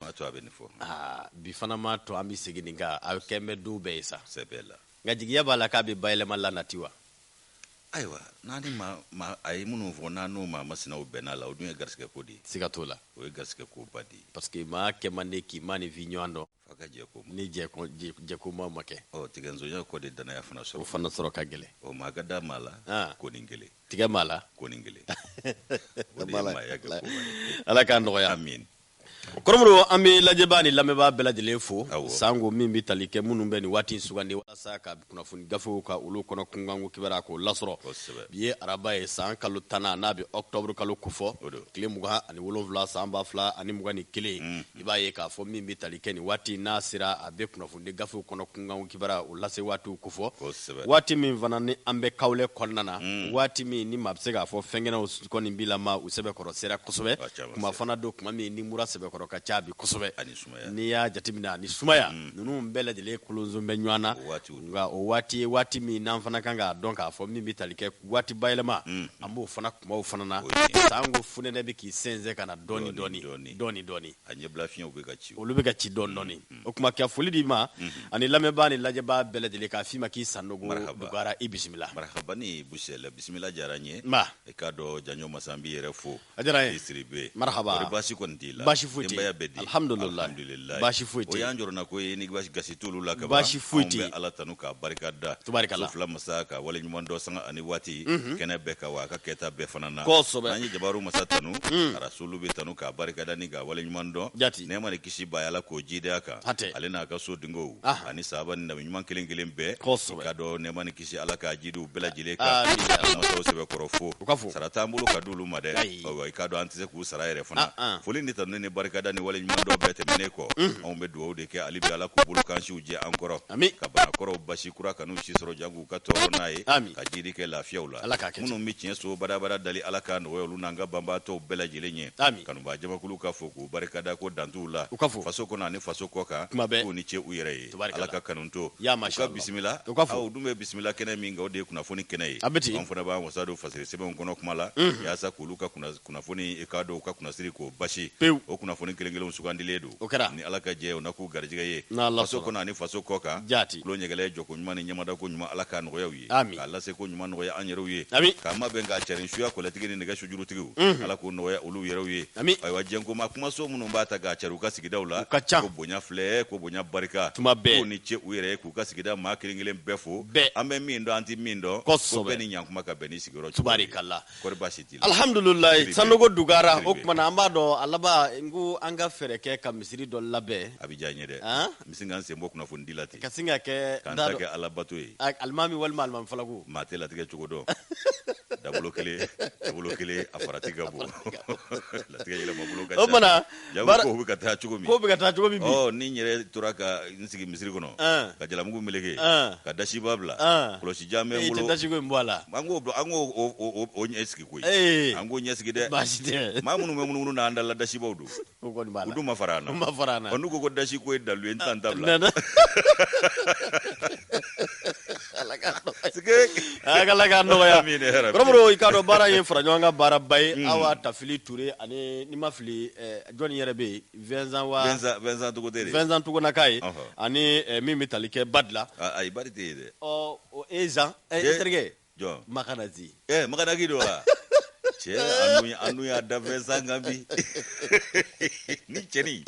M'a to a bɛ nin fɔ. Aa bi fana m'a to an bɛ segin nin kan a kɛn bɛ du bɛɛ ye sa. Sɛbɛ la. Nka jigiya b'a la k'a bɛ bayɛlɛma la nati wa? Ayiwa n'a ni maa maa a ye minnu fɔ n'a n'o maa masinaw bɛnna la o dun ye garisigɛ ko de ye. Siga t'o la. O ye garisigɛ ko ba de ye. Parce que maa kɛ man di k'i maa ni vi ɲɔgɔn dɔn. F'a ka jɛ ko ma. Ni jɛ ko jɛ jɛ ko ma ma kɛ. Ɔ tigɛnsonya kɔ de danaya fana sɔrɔ. O fana sɔrɔ ka gɛlɛn. Ɔ maa ka da maa la. Aa. Ko nin kelen. Tigɛ maa la. Ko nin kelen. O de ye maaya kɛ ko ba ye. Ala k'a nɔgɔya. Amine. Kɔrɔmɔgɔw an bɛ lajɛbaa ni lamɛnbaa bɛɛ lajɛlen fo sanko min bɛ tali kɛ minnu bɛ nin waati sugandi walasa ka kunnafoni gafew ka olu kɔnɔ kunkanko kibaruya k'o lasɔrɔ bi ye araba ye san kalo tannan n'a bɛ octobre kalo kofɔ tile mugan ani wolonwula san ba fila ani mugan ni kelen i b'a ye k'a fɔ min bɛ tali kɛ nin waati n'a sera a bɛ kunnafoni ni gafew kɔnɔ kunkanko kibaruya o lase waatiw kofɔ Kosɛbɛ. waati min fana ni an bɛ kawlɛ kɔnɔna na waati min ni maa bɛ se k'a fɔ fɛnkɛnɛw kɔni b'i la ma u sɛbɛkɔrɔ sera kosɛbɛ Ka ca, ka tuma fana don tuma min ni mura sɛbɛkɔrɔ ka ca bi kosɛbɛ Ani sumaya. n'i y'a jateminɛ ani sumaya ninnu bɛɛ lajɛlen kolonson bɛ ɲɔgɔn na O waatiw don. nka o waati ye waati min n'an fana kan k'a dɔn k'a fɔ min bɛ tali kɛ waati bayɛlɛma an b'o fana tumaw fana na O ye tiɲɛ. sanko fonɛnɛ bɛ k'i sɛnsɛn ka na dɔɔni Dɔɔni, dɔɔni dɔɔni. dɔɔni dɔɔni a ɲɛbila fiɲɛw bɛ ka ci olu bɛ ka ci dɔɔni dɔɔni mm, mm. o tuma ka foli d'i ma mm-hmm. ani lamɛnbaa ni lajɛbaa bɛɛ lajɛlen k'a f'i ma k'i Sanogo dugara i bisimila marahaba ni busɛlɛ bisimila diyara n ye ma i k'a dɔn janjo masa n b'i yɛrɛ fo a diyara n ye Sidibe marahaba kɔri baasi kɔni t'i la baasi foyi tɛ denbaya bɛ di alhamdulilayi baasi foyi tɛ o y'an jɔrɔna ko ye ni gasi t'olu la ka ban baasi foyi tɛ anw bɛ ala tanu k'a barika da tubarikala fila masa k'a wale ɲuman dɔn sanga ani waati mm-hmm. kɛlen bɛɛ kan wa a ka kɛta bɛɛ fana na kosɛbɛ an ye jabaru masa tanu mm. araso olu bɛ tanu k'a barikada ni k'a waleɲuman dɔn jati nɛɛma ni kisi b'a ye Ala k'o jiid'a kan hatɛ ale n'a ka so dingow aha ani sahaba ni nabi ɲuman kelen kelen bɛɛ kosɛbɛ ka dɔn nɛɛma ni kisi Ala k'a jiidi u bɛɛ lajɛlen kan amin ya rabi masaw sɛbɛkɔrɔ fo u ka fo sara t'an bolo ka d'olu ma dɛ ayi ayiwa i k'a dɔn an tɛ se k'u sara yɛrɛ fana ah, ah. foli ni tanuni ni barikada ni waleɲuman dɔn bɛɛ tɛmɛnen kɔ anw bɛ dugawu de kɛ hali bi Ala k'u bolo kansiw jɛ an kɔrɔ amin ka bana kɔrɔw basi kura kan'u si sɔrɔ janko u ka tɔɔrɔ n'a ye ka jiidi kɛ lafiyaw la minnu bɛ tiɲɛ so badabada dali ala k'a nɔgɔya olu n'an ka banabaatɔw bɛɛ lajɛlen ye kanubaa jamakulu ka fo k'u barikada ko dantuw la faso kɔnɔ ani faso kɔ kan k'u ni ce u yɛrɛ ye ala ka kanu to ka bisimila aw dun bɛ bisimila kɛnɛ min kan o de ye kunnafoni kɛnɛ ye an fana b'an wasa don fasiri sɛbɛnw kɔnɔ kuma la yaasa k'olu ka Kunnafoni k'a dɔn u ka kunnasiri k'o basi pewu o kunnafoni kelen kelenw sugandilen don o kɛra ni ala ka jɛ o na k'u garijɛgɛ ye faso kɔnɔ ani faso kɔ kan jaati tulo ɲɛgɛlɛ jɔ ko ɲuman ni ɲɛmada ko ɲuman ala k'a nɔgɔya u ye k'a lase ko ɲuman nɔgɔya an yɛrɛw ye k'a mabɛn k'a carin suya kɔlɛtigi ni nɛgɛ sujurutigiw ala k'o nɔgɔya olu yɛrɛw ye ayiwa jɛnkoma kumaso minnu b'a ta k'a cari u ka sigidaw la ka ca k'u bonya filɛ k'u bonya barika tuma bɛɛ k'u ni ce u yɛrɛ ye k'u ka sigida maa kelen kelen bɛɛ fo an bɛ min dɔn an tɛ min dɔn ko bɛɛ ni ɲankuma ka bɛn ni sigiyɔrɔ tubaarikala Alihamdulila Sanogo dugu jɛra o kumana an b'a dɔn a laban ko an ka fɛɛrɛ kɛ ka misiri dɔ labɛn a bɛ diya n ye dɛ n bɛ sin ka n sen bɔ kunnafoni di la ten ka sin ka kɛ k'an ta kɛ alabato ye alimami walima alimami falaku maa tɛ latigɛ cogo dɔn dabolo kelen a farati ka bon latigɛ Ja Baara- ko bɛ ka taa cogo min Ko bɛ ka taa cogo min bi. Ɔ, ni n yɛrɛ tora ka n sigi misiri kɔnɔ An. ka jalamugu meleke An. ka dasiba bila An. kɔlɔsi jan bɛ n bolo dasiko in bɔ a la. an k'o bila- an k'o o- o- o- o ɲɛ sigi koyi Eh. an k'o ɲɛ sigi dɛ Baasi tɛ. maa minnu bɛ munumunu na an dala dasibaw don O kɔni b'a la. u dun ma fara an na U ma fara an na. Ɔ, n'u ko ko dasi ko ye dalu ye an t'an ta bila Nana. Ala k'a nɔgɔya. Sike. Aa k'Ala k'a nɔgɔya. Amine ya rabi. Kɔrɔbɔrɔ i k'a dɔn baara ye fara ɲɔgɔn kan baaraba ye. Un. Awa Tafili Ture ani n'i ma fili ɛɛ jɔni yɛrɛ bɛ yen Vincent wa. Vincent Vincent Togote de. Vincent Togonaka ye. Ɔhɔ. Ani min bɛ tali kɛ Badla. Aa ayi Badi tɛ yen dɛ. Ɔ o Ezan. Ɛ n terikɛ. jɔn makanazi ɛ eh, makanaki don wa cɛ an dun y'a da Vincent kan bi ni cɛni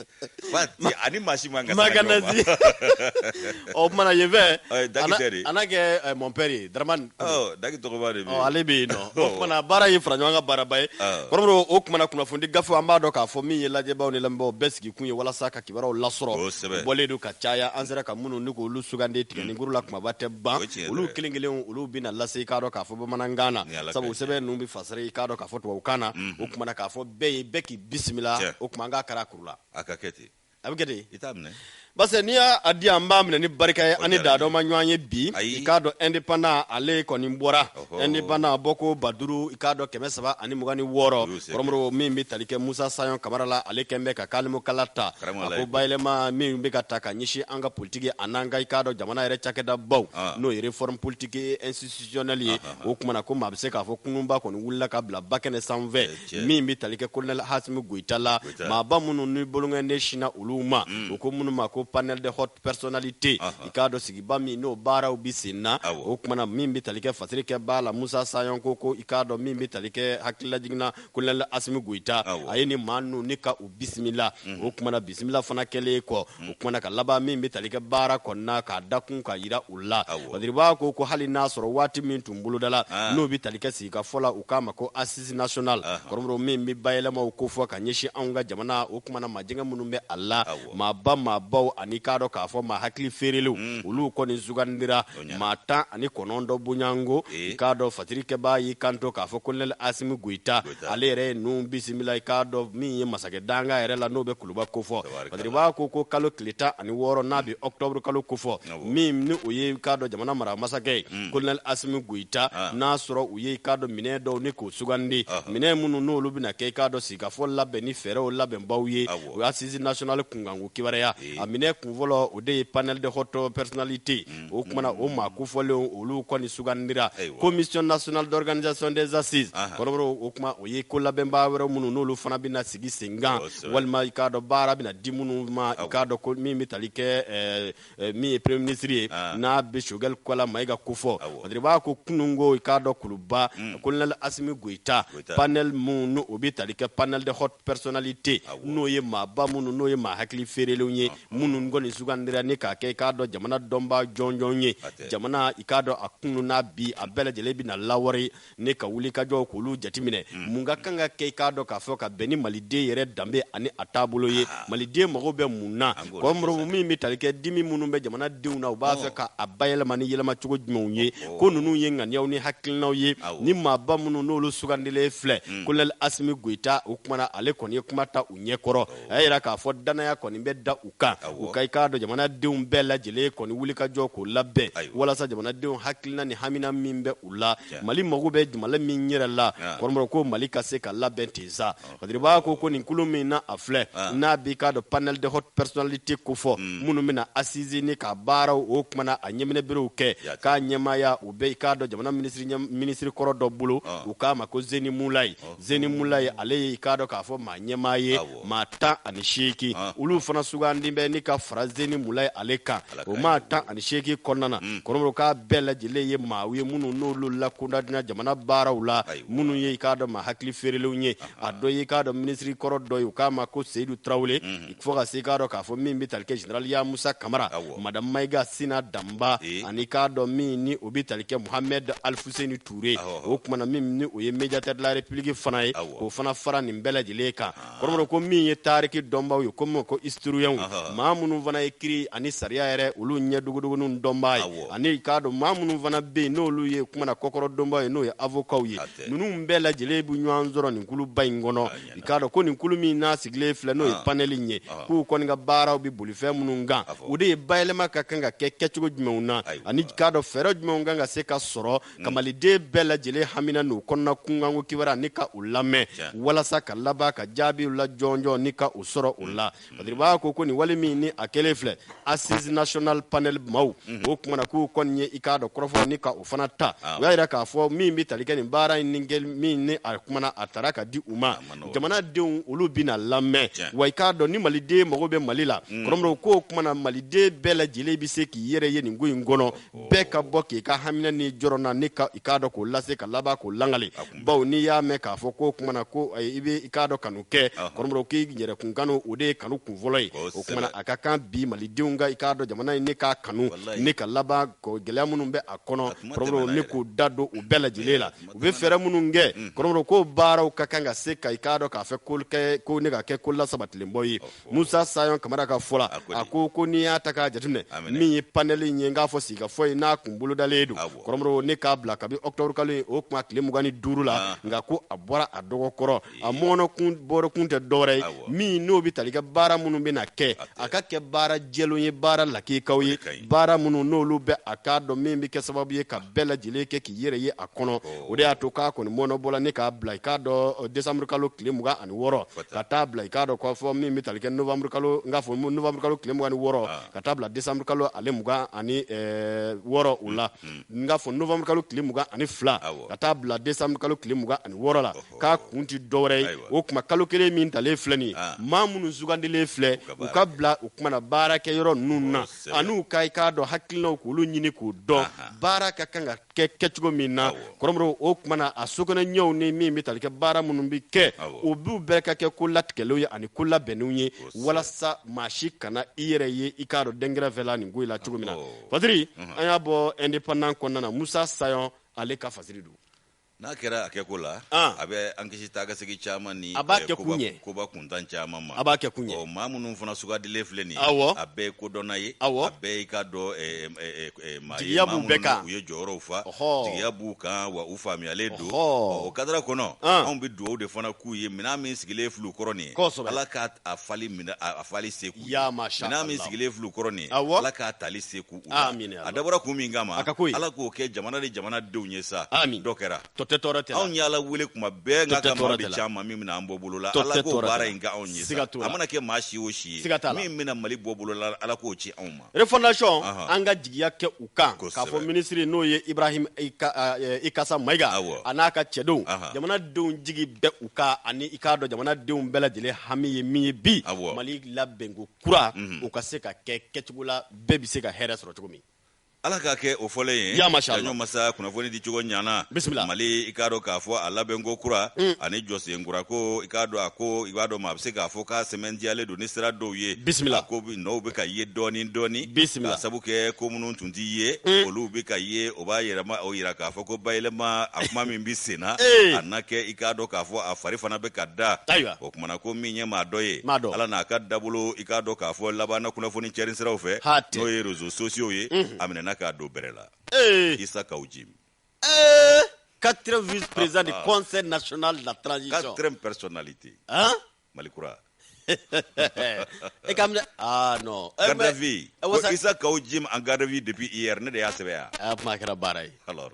ani machine man ka makanazi ɔ oh, kumana yen fɛ Jakite de a n'a kɛ eh, mon père ye daramani ɔ oh, daki tɔgɔba de bɛ yen ale bɛ yen nɔ o kumana baara ye fara ɲɔgɔn kan baaraba ye kɔrɔbɔrɔ o kumana kunnafoni gafe an b'a dɔn k'a fɔ min ye lajɛbaaw ni lamɛnbaaw bɛɛ sigi kun ye walasa ka kibaruyaw lasɔrɔ bɔlen don ka caya an sera ka minnu ɲini k'olu sugandi tigɛ mm. ni kuru la kumaba tɛ ban olu kelen kelen olu bɛna lase i k'a dɔn k'a fɔ bamanankan na sabu sɛbɛn ninnu bɛ fasari i k'a dɔn k'a fɔ tubabukan na mm-hmm. o kumana k'a fɔ bɛɛ ye bɛɛ k'i bisimila o kuma an k'a kɛra kuru la a ka kɛ ten a bɛ kɛ ten i t'a minɛ parce que n'i y'a di an b'a minɛ ni barika ye an ni da dɔ ma ɲɔgɔn ye bi i k'a dɔn indépendant ale kɔni bɔra indépendant bɔko ba duuru i k'a dɔn kɛmɛ saba ani mugan ni wɔɔrɔ kɔrɔbɔrɔ min bɛ tali kɛ musa sayɔn kamara la ale kɛlen bɛ ka kalimukala ta a ko bayɛlɛma min bɛ ka ta ka ɲɛsin an ka politigi a n'an ka i k'a dɔn jamana yɛrɛ cakɛda baw n'o ye réforme politique et institutionnelle ye o kumana ko maa bɛ se k'a fɔ kurunba kɔni wulila ka bila ba kɛnɛ sanfɛ min bɛ tali kɛ colonel asimi goyita la maaba minnu ni bolokɔnden sinna olu ma u ko minnu ma ko panel de personnalités i k'a dɔn sigiba min n'o baaraw bɛ sen na o kumana min bɛ tali kɛ fasiri kɛbaa la musa sayɔn ko ko i k'a dɔn min bɛ tali kɛ hakililajiginina colonel asimi goyita a ye ni maa ninnu ni ka u bisimila o kumana bisimila fana kɛlen kɔ o kumana ka laban min bɛ tali kɛ baara kɔnɔna k'a da kun ka jira u la hali bi a ko ko hali n'a sɔrɔ waati min tun bolodala n'o bɛ tali kɛ sigi ka fɔ la u k'a ma ko assises nationales kɔrɔbɔrɔ min bɛ bayɛlɛma ko fɔ ka ɲɛsin an ka jamana o kumana majɛ minnu bɛ a la maa ba maa baw ani k'a dɔn k'a fɔ maa hakili feerelenw mm. olu kɔni sugandira maa tan ani kɔnɔntɔn bonyango i k'a dɔn fatirikɛbaa y'i kanto k'a fɔ kolonɛli asimi goyita ale yɛrɛ ye ninnu bisimila i k'a dɔn min ye masakɛ danga yɛrɛ la n'o bɛ kuluba kofɔ a tiribaa ko ko kalo tile tan ani wɔɔrɔ n'a bɛ ɔkutɔburu kalo kofɔ min ni o ye k'a dɔn jamana mara masakɛ ye mm. kolonɛli asimi goyita ah. n'a sɔrɔ u ye i k'a dɔn minɛn dɔw ni k'o sugandi minɛn minnu n'olu bɛna kɛ i k'a dɔn sigikafɔ labɛn ni fɛɛrɛw labɛnbaw ye o assises nationales kunkanko kibaruya a minɛ kun fɔlɔ o de ye panel de haute personnalité o kuma na o maa kofɔlenw olu kɔni sugandira commission nationale d'organisation des assises kɔrɔmɔrɔ o kuma o ye kolabɛnbaa wɛrɛ minnu n'olu fana bɛna sigi senkan walima i k'a dɔn baara bɛna di minnu ma i k'a dɔn ko min bɛ tali kɛ eh, min ye premier ministre ye ah. n'a bɛ sogɛli kokala mayiga kofɔ a tiribaa ko kunun ko i k'a dɔn kuluba hmm. colonel asimi goyita panel minnu n'o o bɛ tali kɛ panel de haute personnalité n'o ye maaba minnu n'o ye maa hakili feerelenw ye ah, ah. minnu kɔni sugandira ni k'a kɛ i k'a dɔn jamana dɔnbaa jɔnjɔn ye jamana i k'a dɔn a kunun n'a bi a bɛɛ lajɛlen bɛna lawari ni ka wulikajɔw k'olu jateminɛ hmm. mun ka kan ka kɛ i k'a dɔn k'a fɔ ka bɛn ni maliden yɛrɛ danbe ani a taabolo ye ah. maliden mago bɛ mun na kɔrɔmɔrɔ min bɛ tali kɛ dimi minnu bɛ jamana denw na u b'a oh. fɛ k'a bayɛlɛma ni yɛlɛma cogo jumɛnw ye oh. ko ninnu ye ŋaniyaw ni hakilinaw ye ni maaba minnu n'olu sugandilen filɛ hmm. kolonɛli asimi goyita o kuma na ale kɔni ye kuma ta u ɲɛkɔrɔ oh. a y'a jira k'a fɔ dannaya kɔni bɛ da u kan u ka i k'a dɔn jamanadenw bɛɛ lajɛlen kɔni wulikajɔ k'o labɛn walasa jamanadenw hakilina ni hamina min bɛ u la mali mago bɛ jamana min yɛrɛ la kɔrɔ ko mali ka se ka labɛn tisa k'a tiribaa ko ko nin kulu min na a filɛ n'a b'i k'a dɔn panel de haute personnalité kofɔ minnu bɛna assises nin ka baaraw o kuma na a ɲɛminɛ biriw kɛ k'a ɲɛmaaya o bɛ i k'a dɔn jamana minisirikɔrɔ dɔ bolo u k'a ma ko zeni mulayi zeni mulayi ale y'i k'a dɔn k'a fɔ maa ɲɛmaa ye maa tan ani seegin ah. olu fana sugandi bɛ ni ka fara zeni mulayi ale kan o maa tan ani seegin kɔnɔna na hmm. kɔrɔmɔrɔ k'a bɛɛ lajɛlen ye maaw ye minnu n'olu lakodɔnna jamana baaraw la minnu ye i k'a dɔn maa hakili feerelenw ye ah. a dɔ ye i k'a dɔn minisiri kɔrɔ dɔ ye u k'a ma ko seyidu tarawele hmm. fo ka se k'a dɔn k'a fɔ min bɛ tali kɛ general yamusa kamara madame mayiga sina danba eh. ani k'a dɔn min ni o bɛ tali kɛ muhamɛd alifuseni tuure o kuma na min o ye médiateur de la république fana ye k'o fana fara nin bɛɛ lajɛlen kan kɔrɔ ko min ye tariki dɔnbaw ye komi ko historienw maa minnu fana ye kiri ani sariya yɛrɛ olu ɲɛ dogodogonin dɔnba ye ani k'a dɔn maa minnu fana bɛ yen n'olu ye kuma na kɔkɔrɔdonba ye n'o ye avokaw ye ninnu bɛɛ lajɛlen bɛ ɲɔgɔn sɔrɔ nin kuluba in kɔnɔ i k'a dɔn ko nin kulu min n'a sigilen filɛ n'o ye ah. panɛli in ye ah. k'u kɔni ka baaraw bɛ boli fɛn minnu kan o de ye bayɛlɛma ka kan ka kɛ kɛcogo jumɛnw na ani k'a dɔn fɛɛrɛ jumɛnw kan ka se ka sɔrɔ mm. ka maliden bɛɛ lajɛlen hamina n'u kɔnɔna kunkanko kibaruya ni ka u lamɛn walasa ka laban ka jaabiw la jɔnjɔn ni ka u sɔrɔ u la mm. B'a ko ko nin wali min ni a kɛlen filɛ assise national panɛli maw o kumana k'u kɔni ye i k'a dɔn kɔrɔfɔ nin kɛ o fana ta o y'a jira k'a fɔ min bɛ tali kɛ nin baara in kɛli min ni a kumana a taara ka di u ma jamanadenw olu bɛna lamɛn wa i k'a dɔn ni maliden mago bɛ mali la kɔrɔmɔrɔ ko o kumana maliden bɛɛ lajɛlen bɛ se k'i yɛrɛ ye nin ko in kɔnɔ bɛɛ ka bɔ k'i ka hamina n'i jɔrɔna ni ka i k'a dɔn k'o lase ka laban k'o lakali bawo n'i y'a mɛn k'a fɔ ko o kumana ko i bɛ i k'a dɔn kanu kɛ kɔrɔmɔrɔ k'i yɛrɛkun kanu o de ye kanu kun fɔlɔ ye o kumana a ka kan bi malidenw ka i k'a dɔn jamana in ne k'a kanu ni ka laban gɛlɛya minnu bɛ a kɔnɔ kɔrɔmɔrɔ ne k'u da don u bɛɛ lajɛlen la u bɛ fɛɛrɛ minnu kɛ kɔrɔmɔrɔ ko o baaraw ka kan ka se ka i k'a dɔn k'a fɛ ko ne ka kɛ ko lasabatilenba ye musa sayon kamara ka fɔ la a ko ko n'i y'a ta k'a jateminɛ min ye panɛli in ye n k'a fɔ sigikafɔ ye n'a kun bolodalen don kɔrɔmɔrɔ ne k'a bila kabi ɔkutɔburu kalo ye o tuma tile mugan ni duuru la nka ko a bɔra a dɔgɔ kɔrɔ a mɔnɔkun bɔrɔkun tɛ dɔwɛrɛ ye min n'o bɛ tali kɛ baara minnu bɛna kɛ a ka kɛ baara jɛlenw ye baara lakikaw ye baara minnu n'olu bɛ a k'a dɔn min bɛ kɛ sababu ye ka bɛɛ lajɛlen kɛ yɛrɛ ye a kɔnɔ o de y'a to k'a kɔni mɔnɔbɔla ni k'a bila i k'a dɔn desanburukalo tile mugan ani wɔɔrɔ ka taa bila i k'a dɔn k'a fɔ min bɛ tali kɛ novanburukalo n k'a fɔ novanburukalo tile mugan ni wɔɔrɔ ka taa bila desanburukalo ale mugan ani wɔɔrɔ o la n k'a fɔ novanburukalo tile mugan ani fila ka taa bila desanburukalo tile mugan ani wɔɔrɔ la k'a kun tɛ dɔwɛrɛ ye o tuma kalo kelen min talen filɛ nin maa minnu sugandilen filɛ u ka bila o kumana baarakɛ yɔrɔ ninnu na an'u ka i k'a dɔn hakilinaw k'olu ɲini k'u dɔn baara ka kan ka kɛ kɛcogo min na kɔrɔmɔrɔ o kumana a sokɛnɛ ɲɛw ni min bɛ tali kɛ baara minnu bɛ kɛ o b'u bɛɛ ka kɛ ko latigɛlenw ye ani ko labɛnnenw ye walasa maa si kana i yɛrɛ ye i k'a dɔn dɛnkɛrɛfɛla nin ko in la cogo min na fadiri an y'a bɔ indépendant kɔnɔna na musa sayɔn ale ka fasiri don N'a kɛra a kɛ ko la a bɛ an kisi taa ka segin caman ni koba kuntan caman ma a b'a kɛ kun ye maa minnu fana sugandilen filɛ nin a bɛɛ kodɔnna ye a bɛɛ i k'a dɔn maaya b'u bɛɛ kan u ye jɔyɔrɔw fa jigiya b'u kan wa u faamuyalen don o kadara kɔnɔ anw bɛ dugawu de fana k'u ye minɛn min sigilen filɛ u kɔrɔ nin ye ala k'a fali se k'u ye minɛn min sigilen filɛ u kɔrɔ nin ye ala k'a tali se k'u Amin a dabɔra kun min kama ala k'o kɛ jamana ni jamana denw ye sa dɔ kɛra to tɛ tɔɔrɔ tɛ anw y'ala wele kuma bɛɛ nka ka ca maa min bɛna an bɔ bolo la ala k'o baara in kɛ anw ye sa a mana kɛ maa si o si ye min bɛna mali bɔ bolo la ala k'o ci anw ma refondation an ka jigiya kɛ u kan k'a fɔ minisiri n'o ye ibrahim ikasa mayiga a n'a ka cɛdenw jamana denw jigi bɛ u kan ani i k'a dɔn jamana denw bɛɛ lajɛlen hami ye min ye bi mali labɛnko kura mhm. o ka se ka kɛ kɛcogo la bɛɛ bɛ se ka hɛrɛ sɔrɔ cogo min ala k'a kɛ o fɔlen ye yaɲɔ masa kunnafoni di cogo ɲana mali i k'a dɔn k'a fɔ a labɛnko kura mm. ani jɔsen kura ko i k'a dɔn a ko i b'a dɔn ma a bɛ se k'a fɔ k'a sɛmɛntiyalen don ni sira dɔw ye bisimila ko nɔw bɛ ka ye dɔɔni dɔɔni bisimila k'a sabu kɛ ko minnu tun ti ye mm. olu bɛ ka ye o b'a yɛrɛma o yira k'a fɔ ko bayɛlɛma a kuma min bɛ senna a na kɛ i k'a dɔn k'a fɔ a fari fana bɛ ka da o kumana ko min ye maa dɔ ye ala n'a ka dabolo i k'a dɔn k'a fɔ laban na kunnafoni cɛrin siraw fɛ n'o ye réseaux sociaux ye mhm. a minɛna k'a don bɛrɛ la isa kaw jim quatrième vice président du ah, ah. conseil national de la transition quatrième personnalité mali kura e ka minɛ ah non eh, garde à vue eh, isa kaw jim en garde à vue depuis hier ne de y'a sɛbɛn yan a ah, kuma kɛra baara ye alors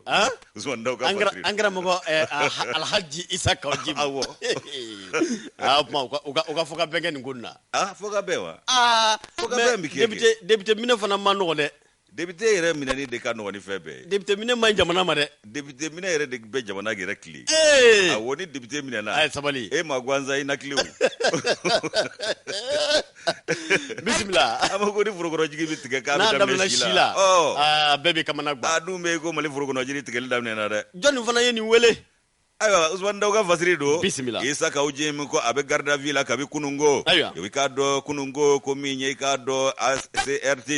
Usman Daw ka fasiri. An kɛra mɔgɔ eh, ah, Alhaji Isa Kaw Jim. Awɔ. Aa ah, kuma u ka u ka u ka fɔ ka bɛn kɛ nin ko nin na. Aa ah, fɔ ka bɛn wa? Aa fɔ ka bɛn bi kɛ. Député député minɛ fana man nɔgɔn dɛ. Député yɛrɛ minɛni de ka nɔgɔn ni fɛn bɛɛ ye. Député minɛ man ɲi jamana ma dɛ. Député minɛ yɛrɛ de bɛ jamana yɛrɛ tilen. Ee. Awɔ ni député minɛna. A ye sabali. E ma gansan i na tilen o. bisimila a ma ko ni forokɔnɔjiri bɛ tigɛ k'a bɛ daminɛ si la a bɛɛ bɛ kamana gan a dun bɛ ko mali forokɔnɔjiri tigɛli daminɛna dɛ jɔnni fana ye nin wele ayiwa usumani daw ka fasiri don bisimila isa kaw jim ko a bɛ garde à vue la kabi kununko ayiwa i k'a dɔn kununko ko min ye i k'a dɔn CNT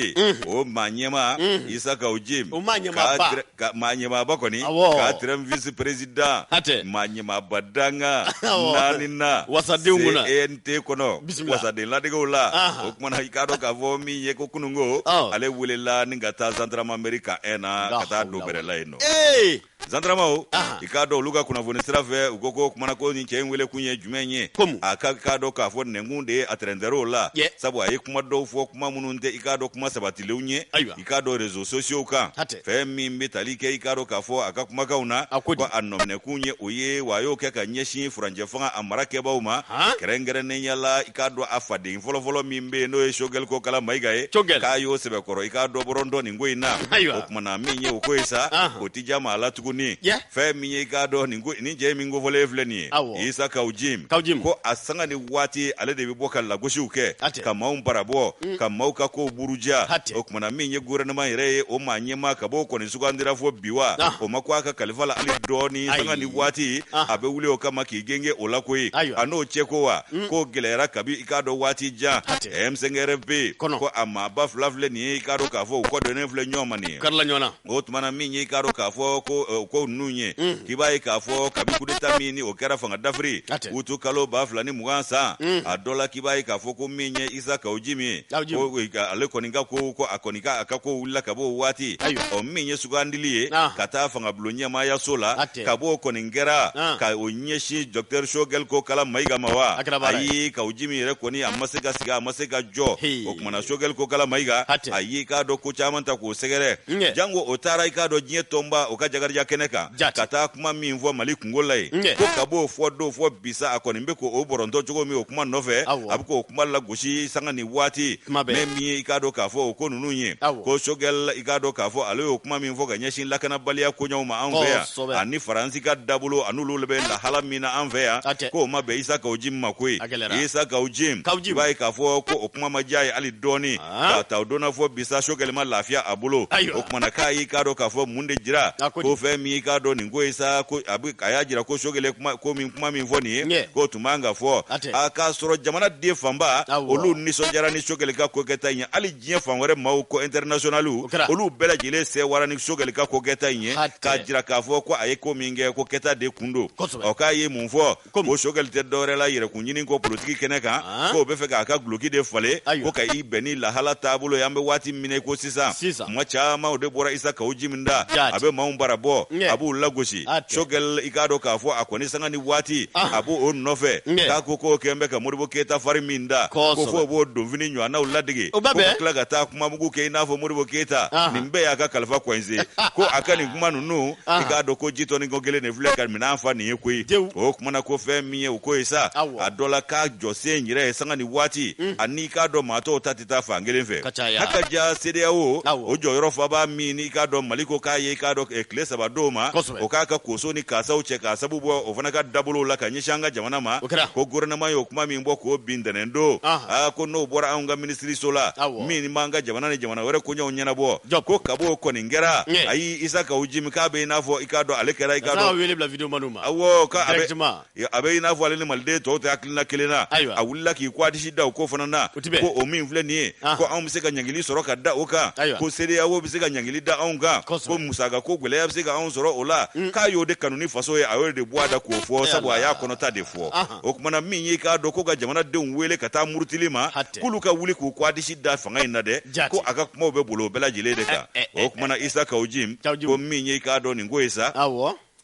o maa ɲɛmaa isa kaw jim o maa ɲɛmaaba ka maa ɲɛmaaba kɔni quatrième vice président hatɛ maa ɲɛmaaba dankan naaninan wasadenw kunna CNT kɔnɔ wasaden ladegew la o kumana i k'a dɔn k'a fɔ min ye ko kununko ale welela ni ka taa gendarmerie camp 1 na ka taa don bɛrɛ la yen nɔ zandaramaw i k'a dɔn olu ka kunnafoni sira fɛ u ko ko kumana ko nin cɛ in wele kun ye jumɛn ye a ko i k'a dɔn k'a fɔ nɛnkun de ye a tɛrɛntɛr'o la sabu a ye kuma dɔw fɔ kuma minnu tɛ i k'a dɔn kuma sabatilenw ye i k'a dɔn réseaux sociaux kan fɛn min bɛ tali kɛ i k'a dɔn k'a fɔ a ka kumakanw na a ko a nɔminɛkun ye o ye wa a y'o kɛ ka ɲɛsin furancɛ fanga a mara kɛbaaw ma kɛrɛnkɛrɛnnenya la i k'a dɔn a faden fɔlɔfɔlɔ min bɛ yen n'o ye sogɛli kokala mayiga ye k'a y'o sɛbɛkɔrɔ i k'a dɔn bɔrɔntɔ nin ko in na o kumana min ye o ko ye sa o tɛ diya maa la tuguni fɛn min ye i k'a dɔn nin cɛ min kofɔlen filɛ nin ye Awɔ. isa kaw jim Kaw jim. ko a sanga ni waati ale de bɛ bɔ ka lagosiw kɛ Hatɛ. ka maaw barabɔ ka maaw ka kow buruja Hatɛ. o kumana min ye gouvernement yɛrɛ ye o maa ɲɛmaa kab'o kɔni sugandira fo bi wa Ah. o ma ko a ka kalifa la hali dɔɔni Ayi. sanga ni waati Ah. a bɛ wuli o kama k'i genge o la koyi Ayiwa. a n'o cɛ ko wa ko gɛlɛyara kabi i k'a dɔn waati jan Hatɛ. M5RFP Kɔnɔ. ko a maaba fila filɛ nin ye i k'a dɔn k'a fɔ u kɔdonnen filɛ ɲɔgɔn ma nin ye karila ɲɔgɔn na o tumana min y'i k'a dɔn k'a fɔ ko eh, ko ninnu ye k'i b'a ye k'a fɔ kabi kudeta min ni o kɛra fanga dafiri A tɛ. uti kalo ba fila ni mugan san a dɔ la k'i b'a ye k'a fɔ ko min ye Isa Kawu Jim ye Kawu Jim. ko eh, ka- ale kɔni ka ko ko a kɔni ka a ka ko wulila ka bɔ o waati Ayiwa. ɔ min ye sugandili ye Ahan. ka taa fangabulon ɲɛmaayaso la A tɛ. Tɛ. kab'o kɔni kɛra Ah. ka o ɲɛsin dɔkitɛri sogɛli kokala mayiga ma wa A kɛra baara ye. ayi Kawu Jim yɛrɛ kɔni a ma se ka sigi a ma se ka jɔ Hei. o kumana sogɛli kokala mayiga A tɛ. a y'i k'a dɔn ko caman ta k'o sɛgɛrɛ Nkɛ. jango o taara i k'a dɔn diɲɛ tɔnba o ka jagarija kɛnɛ kan Jate. ka taa kuma min fɔ mali kunko la yen Nkɛ. ko kab'o fɔ don fo bi sa a kɔni bɛ k'o bɔrɔntɔ cogo min o kuma nɔfɛ Awɔ. a bɛ k'o kuma la gosi sanga ni waati mais min ye i k'a dɔn k'a fɔ o ko ninnu ye ko sogɛli i k'a dɔn k'a fɔ ale y'o kuma min fɔ ka ɲɛsin lakanabaliya koɲɛw ma an fɛ yan ani faransi ka dabolo an'olu bɛ lahala min na an fɛ yan k'o ma bɛn Isa Kawu Jim ma koyi Isa Kawu Jim i b'a ye k'a fɔ ko o kuma ma diya a ye hali dɔɔni k'a ta o don na fo bi sa sogɛli ma lafiya a bolo o kumana k'a y'i k'a dɔn k'a fɔ mun de jira ko fɛn min y'i k'a dɔn nin ko ye sa ko a y'a jira ko sogɛli ye kuma ko min kuma min fɔ nin ye k'o tun man ka fɔ a k'a sɔrɔ jamana den fanba olu nisɔndiyara ni sogɛli ka kokɛta in ye hali diɲɛ fan wɛrɛ maaw ko intɛrinasiyonaliw olu bɛɛ lajɛlen sɛwara ni sogɛli ka kokɛta in ye k'a jira k'a fɔ ko a ye ko min kɛ ko kɛta de kun don ɔ k'a ye mun fɔ ko sogɛli tɛ dɔwɛrɛ la yɛrɛkun ɲini kɔ politiki kɛnɛ kan k'o b'a fɛ k'a ka guloki de falen ko ka i bɛn ni lahala taabolo ye an bɛ waati min ko sisan Sisan. kuma caman o de bɔra Isa Kawu Jim da Jati. a bɛ maaw bara bɔ Ɲɛ. a b'u lagosi A tɛ. sogɛli i k'a dɔn k'a fɔ a kɔni sanga ni waati Ah. a b'o nɔfɛ Ɲɛ. k'a ko k'o kɛn bɛ ka modibo keyita fari min da ko Kosɛbɛ. fo o b'o donfini ɲɔgɔnnaw ladege O bɛ ko ka bɛn. tila ka taa kuma mugu kɛ i n'a fɔ modibo keyita Ah. nin bɛɛ y'a ka kalifa kɔnse ko a ka nin kuma ninnu Ah. i k'a dɔn ko jitoni ko kelen de filɛ ka minɛn fa nin ye koyi Dewu. o kumana ko fɛn min ye o ko ye sa Awɔ. a dɔ la k'a jɔsen yɛrɛ ye sanga ni waati ani k'a dɔn maa tɔw ta tɛ taa fan kelen fɛ caya. haka ja CEDEAO Awɔ. o jɔyɔrɔfabaa min n'i k'a dɔn Mali ko k'a ye i k'a dɔn eh, tile saba d'o ma Kosɛbɛ. o k'a ka koso ni kasaw cɛ k'a sabu bɔ o fana ka dabolow la ka ɲɛsin an ka jamana ma O kɛra. ko gouvernement y'o kuma min bɔ k'o bi ntɛnɛn don Ahan. aa ko n'o bɔra anw ka minisiriso la Awɔ. min b'an ka jamana ni jamana wɛrɛ koɲɛw ɲɛnabɔ Jɔp. ko kab'o kɔni kɛra Ɲɛ. ayi Isa Kawu Jim k'a bɛ i n'a fɔ i k'a dɔn ale kɛra i k'a N'a dɔn wele bila video maniw ma. awɔ k'a a bɛ Directement. a bɛ i n'a fɔ ale ni maliden tɔw tɛ hakilina kelen na a wulila k'i kɔɔ disi da o ko fana na ko o min filɛ nin ye ah. ko anw bɛ se ka ɲangili sɔrɔ ka da o kan ko CEDEAO bɛ se ka ɲangili da anw kan ko musaka ko gɛlɛya bɛ se ka anw sɔrɔ o la mm. k'a y'o de kanu ni faso ye a y'o de bɔ a da k'o fɔ sabu a y'a kɔnɔta de fɔ ah. o tumana min y'i k'a dɔn ko ka jamanadenw wele ka taa murutili ma k'olu ka wuli k'u kɔɔ disi da fanga in na dɛ ko a ka kumaw bɛ bolo o bɛɛ lajɛlen de kan eh, eh, o tumana eh, Isa Kawu Jim ko min y'i k'a dɔn nin ko ye sa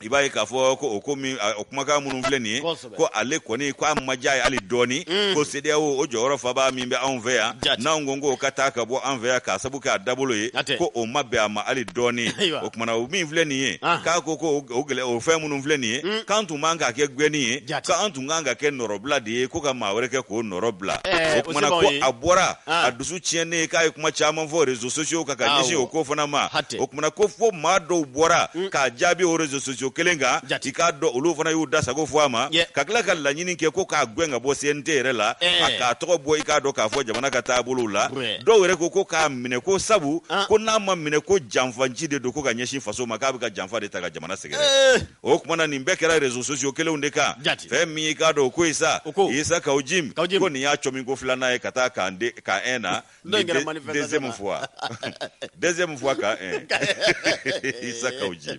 i b'a ye k'a fɔ ko o ko min o kumakan minnu filɛ nin ye ko ale kɔni ko a ma diya a ye hali dɔɔni mm. ko CEDEAO o jɔyɔrɔfabaa min bɛ anw fɛ yan n'anw ko k'o ka taa ka bɔ an fɛ yan k'a sabu kɛ a dabolo ye ko o ma bɛn a ma hali dɔɔni o kumana o min filɛ nin ye ah. k'a ko ko o gɛlɛ o fɛn minnu filɛ nin ye mm. k'an tun man ka kɛ gɛnni ye k'an tun kan ka kɛ nɔrɔbila de ye ko ka maa wɛrɛ kɛ k'o nɔrɔ bila eh, o kumana ko a bɔra ah. a dusu tiɲɛnen k'a ye kuma caman fɔ rezo sosiyo kan ka ah, ɲɛsin o ko fana ma o kumana ko fo maa dɔw bɔra mm. k'a jaabi o rezo sosiyo kelen kan i k'a dɔn olu fana y'u da sago fɔ a ma ka tila ka laɲini kɛ ko k'a gwɛn ka bɔ CNT yɛrɛ la eh. a k'a tɔgɔ bɔ i k'a dɔn k'a fɔ jamana ka taabolow la dɔw yɛrɛ ko ko k'a minɛ ko sabu ah. ko n'a ma minɛ ko janfanci de don ko ka ɲɛsin faso ma k'a bɛ ka janfa de ta ka jamana sɛgɛrɛ eh. o kumana nin bɛɛ kɛra rezo sosiyo kelenw de kan fɛn min i k'a dɔn o ko ye sa isa kaw jim ko nin y'a cɔmin ko filanan ye ka taa camp un na deuxième fois deuxième fois camp un isa kaw jim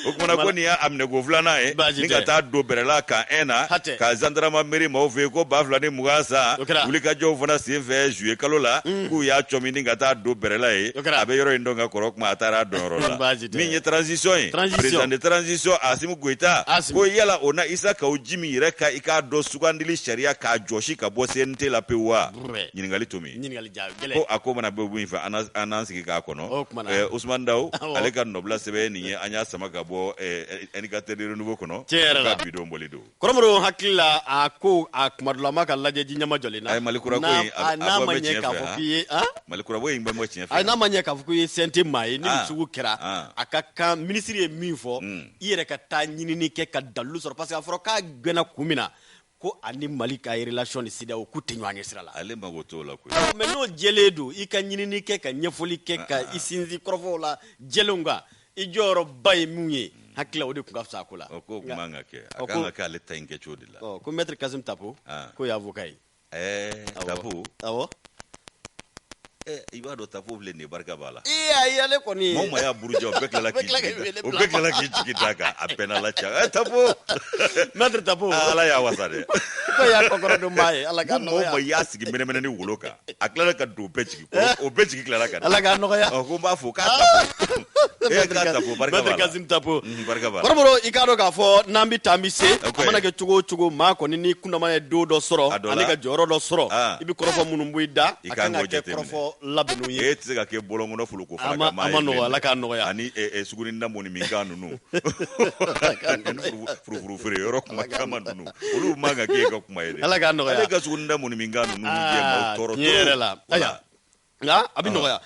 o kumana ko nin y'a minɛ ko filanan ye ni ka taa don bɛrɛla camp un na ka gendarmerie maaw fɛ yen ko ba fila ni mugan san wulikajɔw fana sen fɛ zuye kalo la k'u y'a cɔmin ni ka taa don bɛrɛla ye a bɛ yɔrɔ in dɔn ka kɔrɔ comme a taara a dɔnyɔrɔ la min ye transition ye président de transition Asimi Goita ko yala o na Isa Kawo Jimi yɛrɛ ka i k'a dɔn sugandili sariya k'a jɔsi ka bɔ CNT la pewu wa ɲininkali tomi ko a ko mana bɛn min fɛ an n'an sigi k'a kɔnɔ Usumani Dawu ale ka nɔbila sɛbɛn ye nin ye an y'a sama ka bɔ indicateur du renouveau kɔnɔ ka bi don bɔli don kɔrɔbɔrɔ hakilila a ko a kuma dɔ la maa ka lajɛji ɲɛma jɔlen na a ye malikurako in a bɔ n'a ma ɲɛ k'a fɔ k'i ye ah? malikurako in bɛ bɔ tiɲɛ fɛ a n'a ma ɲɛ k'a fɔ k'i ye CNT maa ye nin ah. sugu kɛra ah. a ka kan minisiri ye min fɔ hmm. i yɛrɛ ka taa ɲinini kɛ ka dalilu sɔrɔ parce que a fɔra k'a gɛnna kun min na ko ani mali ka relation ni CEDEAO k'u tɛ ɲɔgɔn ɲɛ sira la ale mago t'o la koyi mais n'o jɛlen don i ka ɲinini kɛ ka ɲɛfɔli kɛ ka i sinsin kɔrɔfɔw lajɛlenw kan i jɔyɔrɔba ye min ye hakili o de tun ka fisa a ko la o ko tun man ka kɛ a kan ka kɛ ale ta in kɛ cogo de la ko mɛtiri kasim tapo ah. k'o ye avoka ye ɛɛ tapo awɔ i b'a dɔn tapo filɛ nin ye barika b'a la ee ayi ale kɔni ye maa o maa y'a burujɛ o bɛɛ tilala k'i jigi o bɛɛ tilala k'i jigi da a kan a bɛnna la ca ɛ tapo mɛtiri tapo ah, ala y'a wasa dɛ k'o y'a kɔkɔrɔdon b'a ye ala k'a nɔgɔya maa o maa y'a sigi mɛnɛmɛnɛnin wolo kan a tilala ka don bɛɛ jigi kɔrɔ, o bɛɛ jigi tilala ka don. Ala k'a nɔgɔya. Ɔ, ko n b'a fɔ ko Tapo. E ye ko Tapo, barika b'a Maitre la. Kasim Tapo. Mhm, barika b'a la. Kɔrɔbɔrɔ, i k'a dɔn k'a fɔ n'an bɛ taa an bɛ se, Ok. a mana kɛ cogo o cogo, maa kɔni n'i kundama ye don dɔ A sɔrɔ, dɔ la. ani ka jɔyɔrɔ dɔ sɔrɔ, Ah. i bɛ kɔrɔfɔ minnu b'i da, I a kan kan ka k'o kɛ jateminɛ. kɔrɔfɔ labɛnnenw ye. E tɛ se ka kɛ bɔlɔnkɔnɔ foloko A fana ma- ka maa a ye ma bilen nɔgɔ, dɛ. Ala k'a nɔgɔya. Ani ɛ, ɛ, suguninda mɔni min kan ninnu. Ani furu- furufuru feere yɔrɔ kuma caman ninnu. olu man kan k'e ka kuma ye dɛ ala k'a nɔgɔya ale ka sugunɛ da mun min kan ninnu jɛ maaw ah, tɔɔrɔ tiɲɛ yɛrɛ la aya nka a bɛ nɔgɔya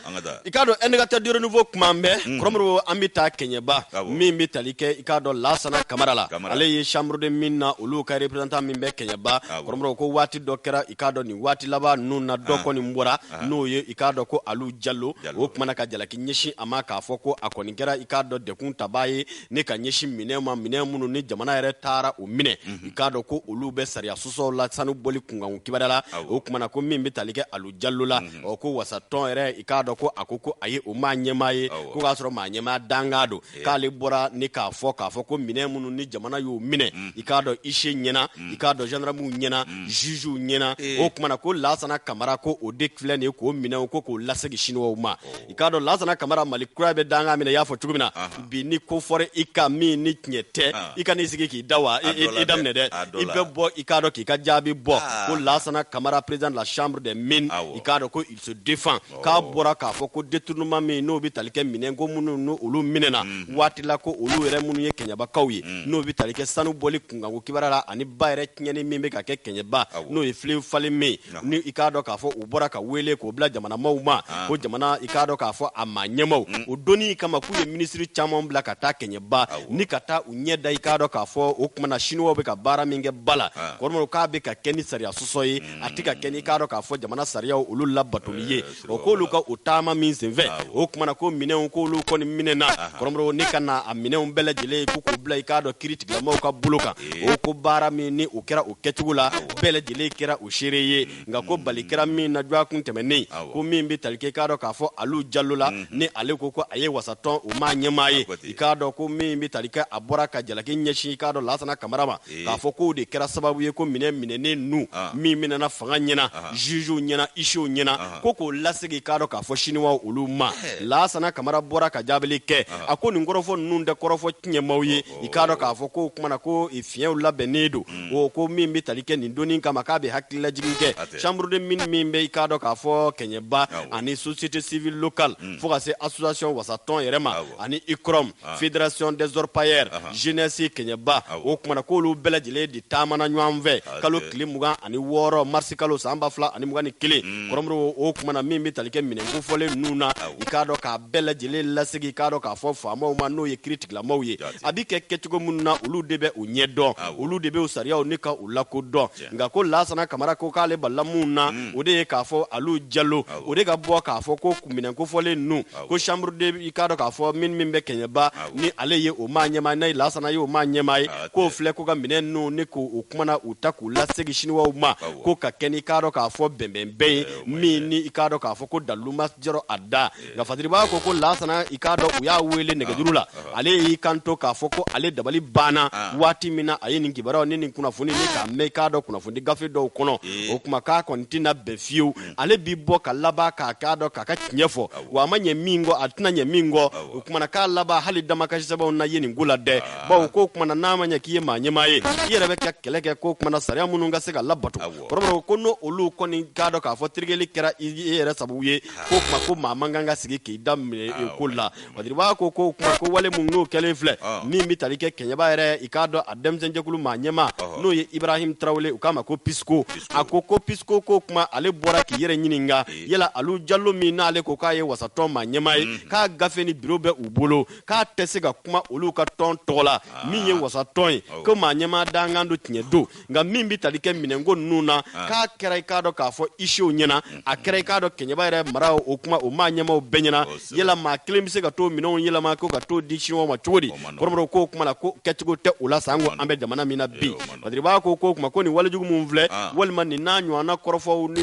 i k'a dɔn indicateur du renouveau kuma an bɛ hmm. kɔrɔmɔrɔ an bɛ taa kɛɲɛba ah min bɛ tali kɛ i k'a dɔn lasana kamara la ale ye chambre des mines na olu ka représentant min bɛ kɛɲɛba ah kɔrɔmɔrɔ ko waati dɔ kɛra i k'a dɔn nin waati laban ninnu na dɔ ah. kɔni bɔra n'o ye i k'a dɔn ko alu jalo o kumana ka jalaki ɲɛsin a ma k'a fɔ ko a kɔni kɛra i k'a dɔn dekun tabaa ye ni ka ɲɛsin minɛn ma minɛn minnu ni jamana yɛrɛ taara u minɛ mhm. i k'a dɔn ko olu bɛ sariya sɔsɔ la sanu bɔli kunkan kubeda la o kumana ko min bɛ tali kɛ alu jalo la mhm. ɔ ko wasatɔn yɛrɛ i k'a dɔn ko a ko ko a ye o maa ɲɛmaa ye ko k'a sɔrɔ maa ɲɛmaa dankan don k'ale bɔra ni k'a fɔ k'a fɔ ko minɛn minnu ni jamana y'u minɛ mhm. i k'a dɔn huissier ɲɛna i k'a dɔn zandaramuw ɲɛna jugew ɲɛna o kumana ko lasana kamara ko o de filɛ nin ye k'o minɛ ko k'o lasegin siniwaw ma i k'a dɔn lasana kamara mali kura bɛ dankan min na i y'a fɔ cogo min na bi ni ko fɔra i kan min ni tiɲɛ tɛ i kan'i sigi k'i da wa i da minɛ dɛ i bɛ bɔ i k'a dɔn k'i ka jaabi bɔ ko lasana kamara président de la chambre des mines i k'a dɔn ko il se défend k'a bɔra k'a fɔ ko détournement min n'o bɛ tali kɛ minɛn ko minnu n'o olu minɛna mhm. waati la ko olu yɛrɛ minnu ye kɛɲɛbakaw ye mhm. n'o bɛ tali kɛ sanu bɔli kunkanko kubeda la ani ba yɛrɛ tiɲɛni min bɛ ka kɛ kɛɲɛba n'o ye fleuve falémé ni i k'a dɔn k'a fɔ u bɔra ka weele k'o bila jamana maaw ma ah. ko jamana i k'a dɔn k'a fɔ a maa ɲɛmaaw mm. o donni kama k'u ye minisiri caman bila ka taa kɛɲɛba ni ka taa u ɲɛ da i k'a dɔn k'a fɔ o kumana sinuwaw bɛ ka baara min kɛ ba la ah. kɔrɔmɔrɔ k'a bɛ ka kɛ ni sariya sɔsɔ ye mm. a tɛ ka kɛ ni i k'a dɔn k'a fɔ jamana sariyaw olu labatoli ye o k'olu ka o taama min senfɛ o kumana ko minɛnw k'olu kɔni minɛna kɔrɔmɔrɔ ni ka na a minɛnw bɛɛ lajɛlen ko k'u bila i k'a dɔn kiri tigilamaw ka bolo kan o ko baara min ni o kɛra o kɛcogo la bɛɛ lajɛlen kɛra o seere ye nka ko bali kɛra min na dɔgɔkun tɛmɛnen ko min bɛ tali kɛ i k'a dɔn k'a fɔ alu jalo la mm-hmm. ni ale ko ko a ye wasatɔn o maa ɲɛmaa ye i k'a dɔn ko min bɛ tali kɛ a bɔra ka jalaki ɲɛsin i k'a dɔn lasana kamara ma k'a fɔ k'o de kɛra sababu ye ko minɛn minɛnen ninnu min minɛna fanga ɲɛna jugew ɲɛna huissierw ɲɛna ko k'o lasegin i k'a dɔn k'a fɔ siniwaw olu ma lasana kamara bɔra ka jaabili kɛ a ko nin kɔrɔfɔ ninnu tɛ kɔrɔfɔ tiɲɛmaw ye i k'a dɔn k'a fɔ k'o kumana ko fiɲɛw labɛnnen don o ko min bɛ tali kɛ nin donni kama k'a bɛ hakililajigin kɛ chambre des mines min bɛ i k'a dɔn k'a fɔ kɛɲɛba ani société civile locale fo ka se association wasatɔn yɛrɛ ma ani ikɔrɔm ah. fédération des orpailleurs ah, ah. jeunesse kɛɲɛba o kumana k'olu bɛɛ lajɛlen de taamana ɲɔgɔn fɛ kalo tile mugan ani wɔɔrɔ marisi kalo san ba fila ani mugan ni kelen hmm. kɔrɔmɔrɔ o kumana min bɛ tali kɛ minɛn kofɔlen ninnu na i k'a dɔn k'a bɛɛ lajɛlen lasegin i k'a dɔn k'a fɔ faamaw ma n'o ye kiri tigilamaw ye a bɛ kɛ kɛcogo minnu na olu de bɛ u ɲɛ dɔn olu de bɛ u sariyaw ni ka u lakodɔn nka ko lasana kamara ko k'ale balila mun na mm. o de ye k'a fɔ alu jalo o de ka bɔ k'a fɔ ko minɛn kofɔlen ninnu ko chambre de i k'a dɔn k'a fɔ mine min bɛ kɛɲɛba ni ale ye o maa ɲɛmaa n'a ye lasana ye o maa ɲɛmaa ye k'o filɛ ko ka minɛn ninnu ni k'o kuma na u ta k'u lasegin siniwaw ma ko ka kɛ ni k'a dɔn k'a fɔ bɛnbɛnbɛn ye min ni i k'a dɔn k'a fɔ ko dalilu ma jɔrɔ a da nka fadiriba ko ko lasana i k'a dɔn u y'a wele nɛgɛjuru la ale y'i kanto k'a fɔ ko ale dabali banna waati min na a ye nin kibaruyaw ni nin kunnafoni ni k'a mɛn i k'a dɔn kunnafoni gafe dɔw kɔnɔ o kuma k'a kɔni tɛna bɛn fiyewu ale b'i bɔ ka laban k'a k'a dɔn k'a k'a ɲɛfɔ wa a ma ɲɛ min kɔ a tɛna ɲɛ min kɔ o kuma na k'a laban hali damakasisɛbɛn na ye nin ko la dɛ bawo k'o kuma na n'a ma ɲɛ k'i ye maa ɲɛmaa ye i yɛrɛ bɛ ka kɛlɛ kɛ k'o kuma na sariya minnu ka se ka labato kɔrɔbɔrɔ ko n'o olu kɔni k'a dɔn k'a fɔ terikɛli kɛra i yɛrɛ sababu ye ko kuma ko maa man kan ka sigi k'i da minɛ e ko la wadiriba ko ko kuma ko wale minnu kɛlen filɛ min bɛ tali kɛ kɛɲɛba yɛrɛ i k'a dɔn a denmisɛnjɛkulu maa ɲɛma n'o ye ibrahim tarawele u k'a ma ko pisiko a ko ko pisiko ko kuma ale bɔra k'i yɛrɛ ɲininka yala alu jalo min n'ale ko k'a ye wasatɔn maa ɲɛma ye k'a gafe ni biro bɛ u bolo k'a tɛ se ka kuma olu ka tɔn tɔgɔ la min ye wasatɔn ye ko maa ɲɛma dankan don tiɲɛ don nka min bɛ tali kɛ minɛnko ninnu na ah. k'a kɛra i k'a dɔn k'a fɔ isew ɲɛna mm-hmm. a kɛra i k'a dɔn kɛɲɛba yɛrɛ mara o kuma o maa ɲɛmaw bɛɛ ɲɛna oh, yala maa kelen bɛ se ka to minɛnw yɛlɛma ko ka to di siniwa ma cogo di kɔrɔmɔrɔ k'o kuma la ko kɛcogo tɛ o la sanko an bɛ jamana min na bi wadiriba ko k'o kuma ko nin walejugu minnu filɛ ah. walima nin n'a ɲɔgɔnna kɔrɔfɔw ni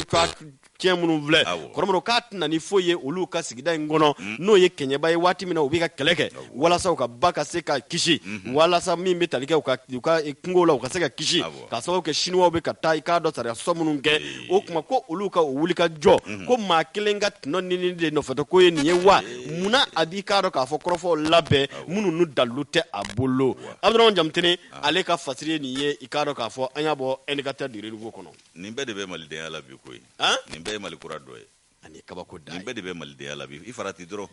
tiɲɛ minnu filɛ kɔrɔmɔrɔ k'a tɛna ni foyi ye olu ka sigida in kɔnɔ mm. n'o ye kɛɲɛba ye waati min na u bɛ ka kɛlɛ kɛ walasa u ka ba ka se ka kisi mm-hmm. walasa min bɛ tali kɛ u ka kungo la u ka se ka kisi ka sababu kɛ siniwaw bɛ ka taa i k'a dɔn sariya sɔsɔ minnu kɛ o kuma ko olu ka u wuli ka jɔ mm-hmm. ko maa kelen ka tɔnɔ ɲini de nɔfɛtɔ ko ye nin ye wa munna a b'i k'a dɔn k'a fɔ kɔrɔfɔw labɛn minnu n'u dalilu tɛ a bolo abudurahman jamutene ah. ale ka fasiri ye nin ye i k'a dɔn k'a fɔ an y'a bɔ indicateur du renouveau kɔnɔ nin bɛɛ de bɛ malidenya la bi koyi nin bɛɛ ye mali kura dɔ ye ani kabako da nin bɛɛ de bɛ malidenya la bi i farati dɔrɔn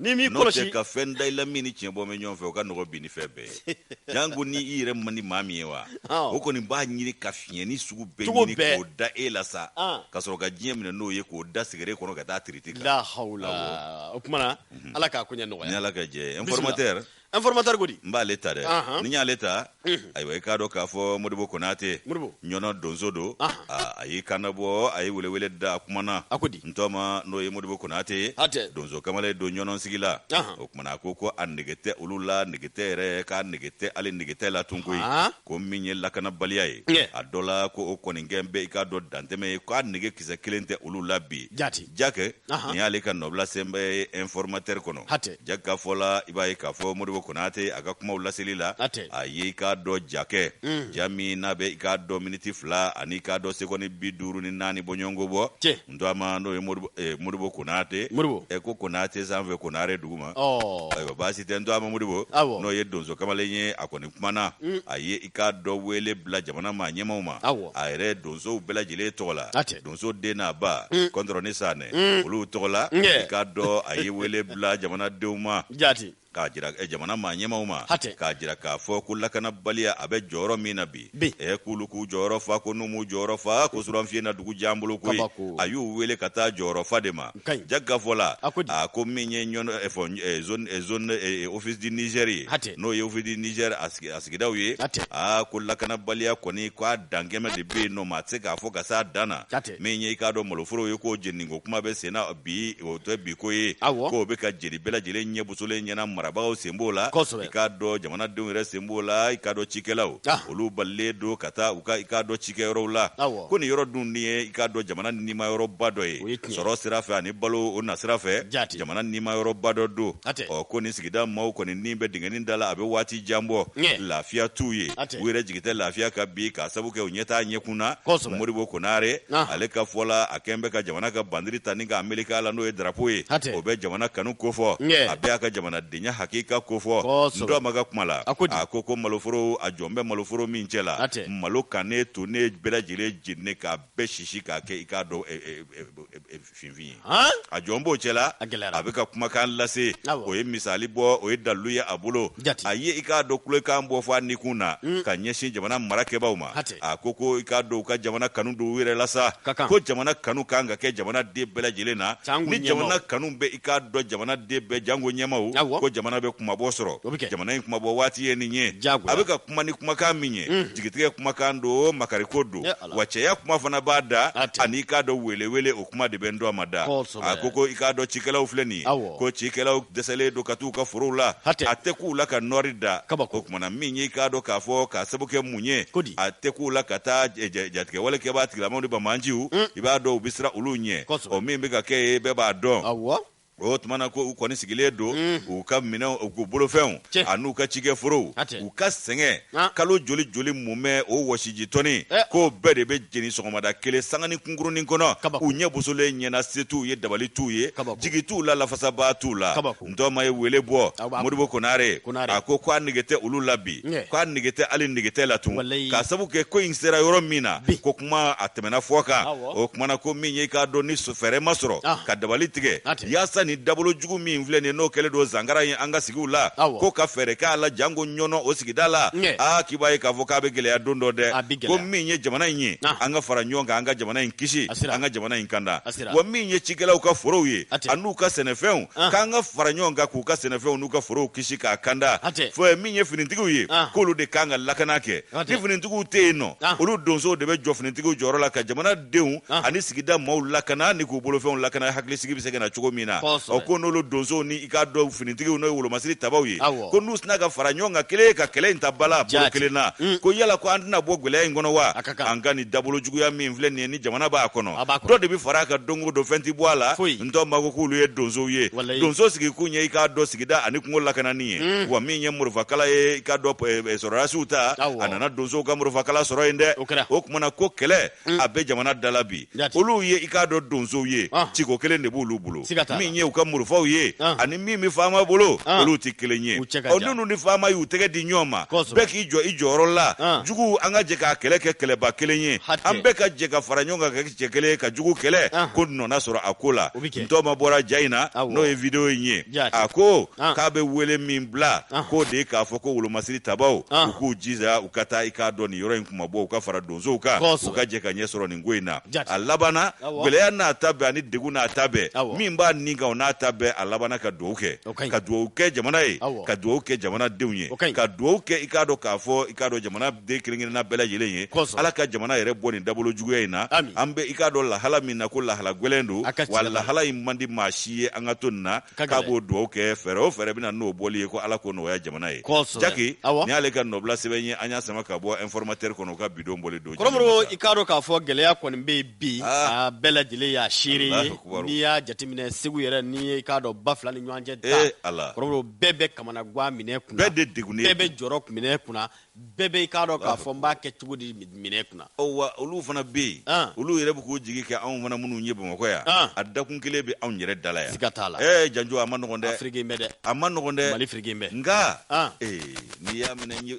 n'i m'i kɔlɔsi ka fɛn da i la min ni tiɲɛ bɔ bɛ ɲɔgɔn fɛ o ka nɔgɔ bi ni fɛn bɛɛ ye janko ni i yɛrɛ man di maa min ye wa o kɔni b'a ɲini ka fiɲɛni sugu bɛɛ ɲini k'o da e la sa ka sɔrɔ ka diɲɛ minɛ n'o ye k'o da sigere kɔnɔ ka taa tiriti kan la o kuma na mhm. ala k'a ko ɲɛ nɔgɔya ni ala ka jɛ informateur informateur ko di n b'ale ta dɛ n'i y'ale ta ayiwa i k'a dɔn k'a fɔ modibo konate ɲɔnɔ donso don a y'i kan bɔ a ye welewele da a kuma na a ko di n tɔma n'o ye modibo konate ye donso kamalen don ɲɔnɔ sigi la o kuma na a ko ko a nege tɛ olu la nege tɛ yɛrɛ k'a nege tɛ hali nege tɛ la tun koyi ko min ye lakanabaliya ye a dɔ la ko o kɔni kɛ bɛ i k'a dɔn dantɛmɛ ye k'a nege kisɛ kelen tɛ olu la bi jati jakɛ nin y'ale ka nɔbila senba ye informateur kɔnɔ hatɛ jakɛ ka fɔ la i b'a ye k'a fɔ modibo konate a ka kumaw laseli la atɛ a ye i k'a dɔn jakɛ ja min n'a bɛ i k'a dɔn miniti fila ani i k'a dɔn segɔni bi duuru ni naani bɔɲɔgɔnko bɔ cɛ n tɔma n'o ye modibo konate modibo ɛ ko konate sanfɛ konare duguma ayiwa baasi tɛ n tɔma modibo n'o ye donso kamalen ye a kɔni kumana a ye i k'a dɔn wele bila jamana maa ɲɛmaw ma a yɛrɛ donsow bɛɛ lajɛlen tɔgɔ la donso den n'a ba mm. kɔntɔrɔn ni sanɛ mm. olu tɔgɔ la i k'a dɔn a ye wele bila jamanadenw ma jati k'a jira eh, jamana maa ɲɛmaw ma k'a jira k'a fɔ ko lakanabaliya a bɛ jɔyɔrɔ min na bi ɛ eh, k'olu k'u jɔyɔrɔ fa ko n'u m'u jɔyɔrɔ fa ko suranfiye na dugu jan bolo koyi a y'u wele ka taa jɔyɔrɔ fa de ma jakɛ ka fɔ la a ko min ye zone office du Niger ye n'o ye office du Niger a sigidaw ye aa ko lakanabaliya kɔni k'a dantɛmɛ de bɛ yen nɔ maa tɛ se k'a fɔ ka s'a dan na min ye i k'a dɔn maloforo ye k'o jeniniko kuma bɛ sen na bi o tɛ biko ye k'o bɛ ka jeni bɛɛ lajɛlen ɲɛbosolen ɲɛna marabagaw sen b'o la i k'a dɔn jamanadenw yɛrɛ sen b'o la i k'a dɔn cikɛlaw olu balilen don ka taa u ka i k'a dɔn ci cikɛyɔrɔw la ko nin yɔrɔ dun ni ye i k'a dɔn jamana nima yɔrɔba dɔ ye sɔrɔ sira fɛ ani balo o na sira fɛ jamana nima yɔrɔba dɔ don ɔ ko nin sigida maaw kɔni ni bɛ dingɛni da la a bɛ waati jan bɔ lafiya t'u ye u yɛrɛ jigi tɛ lafiya ka bi k'a sabu kɛ u ɲɛ t'a ɲɛkun na modibo konare ale ka fɔ la a kɛn bɛ ka jamana ka bandiri ta ni k'a meleke a la n'o ye darapo ye o bɛ jamana kanu kofɔ a bɛ a ka jamanadenya hakika kofɔ n tɔma ka kuma la a ko ko maloforo a jɔn bɛ maloforo min cɛ la malo kannen tonnen bɛɛ lajɛlen jeni k'a bɛɛ sisi k'a kɛ i k'a dɔn finfin ye a jɔn b'o cɛ la a bɛ ka kumakan lase o ye misali bɔ o ye dalu ye a bolo a ye i k'a dɔn kulekan bɔ fɔ a nikun na hmm. ka ɲɛsin jamana marakɛbaaw ma a ko ko i k'a dɔn u ka jamana kanu don u yɛrɛ la sa ko jamana kanu kan ka kɛ jamana den bɛɛ lajɛlen na ni jamana kanu bɛ i k'a dɔn jamana den bɛɛ janko ɲɛmaw ko jamana bɛ kunmabɔ sɔrɔ jamana in kunmabɔ waati ye nin ye a kuma ni kumakan min ye mm. jigitigɛ kumakan don makariko don wa cɛya kuma fana b'a da ani i k'a dɔn welewele o kuma de bɛ n tɔma da a ko ko i k'a dɔn cikɛlaw filɛ nin ye ko cikɛlaw dɛsɛlen don ka t'u ka forow la a tɛ k'u la ka nɔɔri da o kumana min y'i k'a dɔn k'a fɔ k'a sabu kɛ mun ye a tɛ k'u la ka taa jatigɛwale kɛbaa tigilamaw ni banbaanciw mm. i b'a dɔn u bɛ siran olu ɲɛ o min bɛ ka kɛ yen bɛɛ b'a dɔn O tuma na ko u kɔni sigilen don u ka minɛnw u bolofɛnw an'u ka cikɛ forow u ka sɛgɛn kalo joli joli mumɛ o wɔsiji tɔni k'o bɛɛ de bɛ jeni sɔgɔmada kelen sanganin kunkurunnin kɔnɔ u ɲɛ bosolen ɲɛna se t'u ye dabali t'u ye jigi t'u la lafasabaa t'u la ntɔma ye wele bɔ modibo konare a ko k'a nege tɛ olu la bi k'a nege tɛ hali nege tɛ la tun k'a sabu kɛ ko in sera yɔrɔ min na kuma a tɛmɛna fɔ kan o kumana ko min ye i k'a dɔn ni fɛɛrɛ ma sɔrɔ ka dabali tigɛ yaasa ni dabolo jugu min filɛ nin n'o kɛlen don zangara ye an ka sigi la ko ka fɛɛrɛ k'a la janko Ɲɔnɔ sigida la aa k'i b'a ye k'a fɔ k'a bɛ gɛlɛya don dɔ dɛ ko min ye jamana in ye an ka fara ɲɔgɔn kan an ka jamana in kisi an ka jamana in kanda wa min ye cikɛlaw ka forow ye a n'u ka sɛnɛfɛnw k'an ka fara ɲɔgɔn kan k'u ka sɛnɛfɛnw n'u ka forow kisi k'a kanda fɔ min ye finitigiw ye k'olu de kan ka lakana kɛ ni finitigiw tɛ yen nɔ ah. olu donsow de bɛ jɔ finitigiw jɔyɔrɔ la ka jamana denw ah. ani sigida maaw lakana ni k'u bolofɛnw lakana hakilisigi bɛ se ka na cogo min na ɔ ko n'olu donsow ni i k'a dɔn finitigiw n'o ye wolomasiri tabaw ye ko n'u sina ka fara ɲɔgɔn kan kelen ka kɛlɛ in ta bala bolo kelen na mm. ko yala ko an tɛna bɔ gwɛlɛya in kɔnɔ wa an ka nin dabolo juguya min filɛ nin ye ni jamana b'a kɔnɔ dɔ de bɛ fara a kan don o don fɛn tɛ bɔ a la ntɔma ko k'olu ye donsow ye donso sigikun ye i k'a dɔn sigida ani kungo lakanani ye mm. wa min ye murufakala ye i k'a dɔn eh, eh, sɔrɔdasiw ta a nana donsow ka murufakala sɔrɔ yen dɛ o kumana ko kɛlɛ mm. a bɛ jamana dala bi olu ye i k'a dɔn donsow ye ah. ciko kelen de b'olu bolo min ye u ka murufaw ye ah. ani min bɛ faama bolo ah. olu tɛ kelen ye ɔ n'olu ni faama y'u tɛgɛ di ɲɔgɔn ma bɛɛ k'i jɔ i jɔyɔrɔ la juguw an ka jɛ k'a kɛlɛ kɛ kɛlɛba kelen ye an bɛɛ ka jɛ ka fara ɲɔgɔn kan cɛ kelen ye ka jugu kɛlɛ ah. ko nɔ na sɔrɔ a ko la ntɔma bɔra ja in na n'o ye video in ye a ko ah. k'a bɛ wele min bila ah. k'o de ye k'a fɔ ko wolomasiri tabaw u k'u jija u ka taa i k'a dɔn nin yɔrɔ in kunmabɔ u ka fara donsow kan u ka jɛ ka ɲɛ sɔrɔ nin ko in na a labanna gwɛlɛya n'a ta bɛɛ ani degun n'a ta bɛɛ min b'a nin kan o n'a ta bɛɛ a labanna ka dugawu kɛ ka dugawu kɛ jamana ye ka dugawu kɛ jamana denw ye ka dugawu kɛ i k'a dɔn k'a fɔ i k'a dɔn jamana den kelen-kelenna bɛɛ lajɛlen ye ala ka jamana yɛrɛ bɔ nin dabolo juguya in na an bɛ i k'a dɔn lahala min na ko lahala gwɛlɛn don wa lahala in man di maa si ye an ka to nin na k'a b'o dugawu kɛ fɛɛrɛ o fɛɛrɛ bɛ na n'o bɔli ye ko ala k'o nɔgɔya jamana ye Jaki nin y'ale ka nɔbila sɛbɛn ye an y'a sama ka bɔ informateur kɔnɔ u ka bidon bɔli don kɔrɔbɔrɔ i k'a dɔn k'a fɔ gɛlɛya kɔni bɛ bi bɛɛ lajɛlen y'a seere ye Akbar n'i y'a jateminɛ Segu yɛrɛ n'i ye i k'a dɔn ba fila ni ɲɔgɔn cɛ da, ee Ala, kɔrɔbɔrɔ bɛɛ bɛ kamana gan minɛ kunna, bɛɛ de degunnen don, bɛɛ bɛ jɔrɔ minɛ kunna, bɛɛ bɛ i k'a dɔn k'a fɔ n b'a kɛ cogo di minɛ kunna, ɔ wa olu fana bɛ yen, an, olu yɛrɛ bɛ k'u jigi kɛ anw fana minnu ye Bamakɔ yan, an, a dakun kelen bɛ anw yɛrɛ da la yan, siga t'a la, ee Janjo a man nɔgɔn dɛ, Afiriki bɛɛ dɛ, a man nɔgɔn dɛ, Mali Afiriki bɛɛ, nka, an, ee n'i y'a minɛ ɲɛ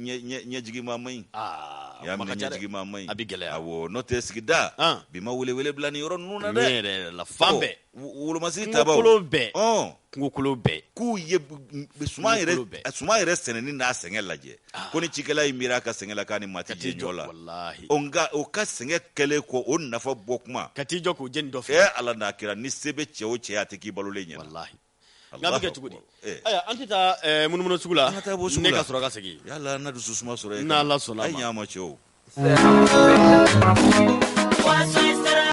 ɲɛ ɲɛ ɲɛjigima man ɲi, aa a y'a kuma ka minɛ ca dɛ. ɲɛjigima man ɲi A bɛ gɛlɛya. awɔ n'o tɛ sigida An. bi ma welewele bila nin yɔrɔ ninnu na Ne dɛ yɛrɛ yɛrɛ la fan Ɔ, bɛɛ wo- wolomasiri kungo tabaw kolon bɛɛ Ɔn. kungo kolon bɛɛ k'u ye b- m- suman yɛrɛ Dugukolo bɛɛ. a suman yɛrɛ sɛnɛni n'a sɛgɛn lajɛ ko ni cikɛla y'i miiri a ka sɛgɛn la k'a ni maa tɛ jɛ ɲɔ la walahi o nka o ka sɛgɛn kɛlen kɔ o nafa bɔ kuma ka t'i jɔ k'o jeni dɔ fɛ ee ala n'a kɛra ni se bɛ cɛ o cɛ ye, a tɛ k'i balolen ɲɛna walahi Nk'a bɛ kɛ cogo di an tɛ taa munumunu sugu la ka sɔrɔ ka segin dusu suma sɔrɔ n' ma cɛ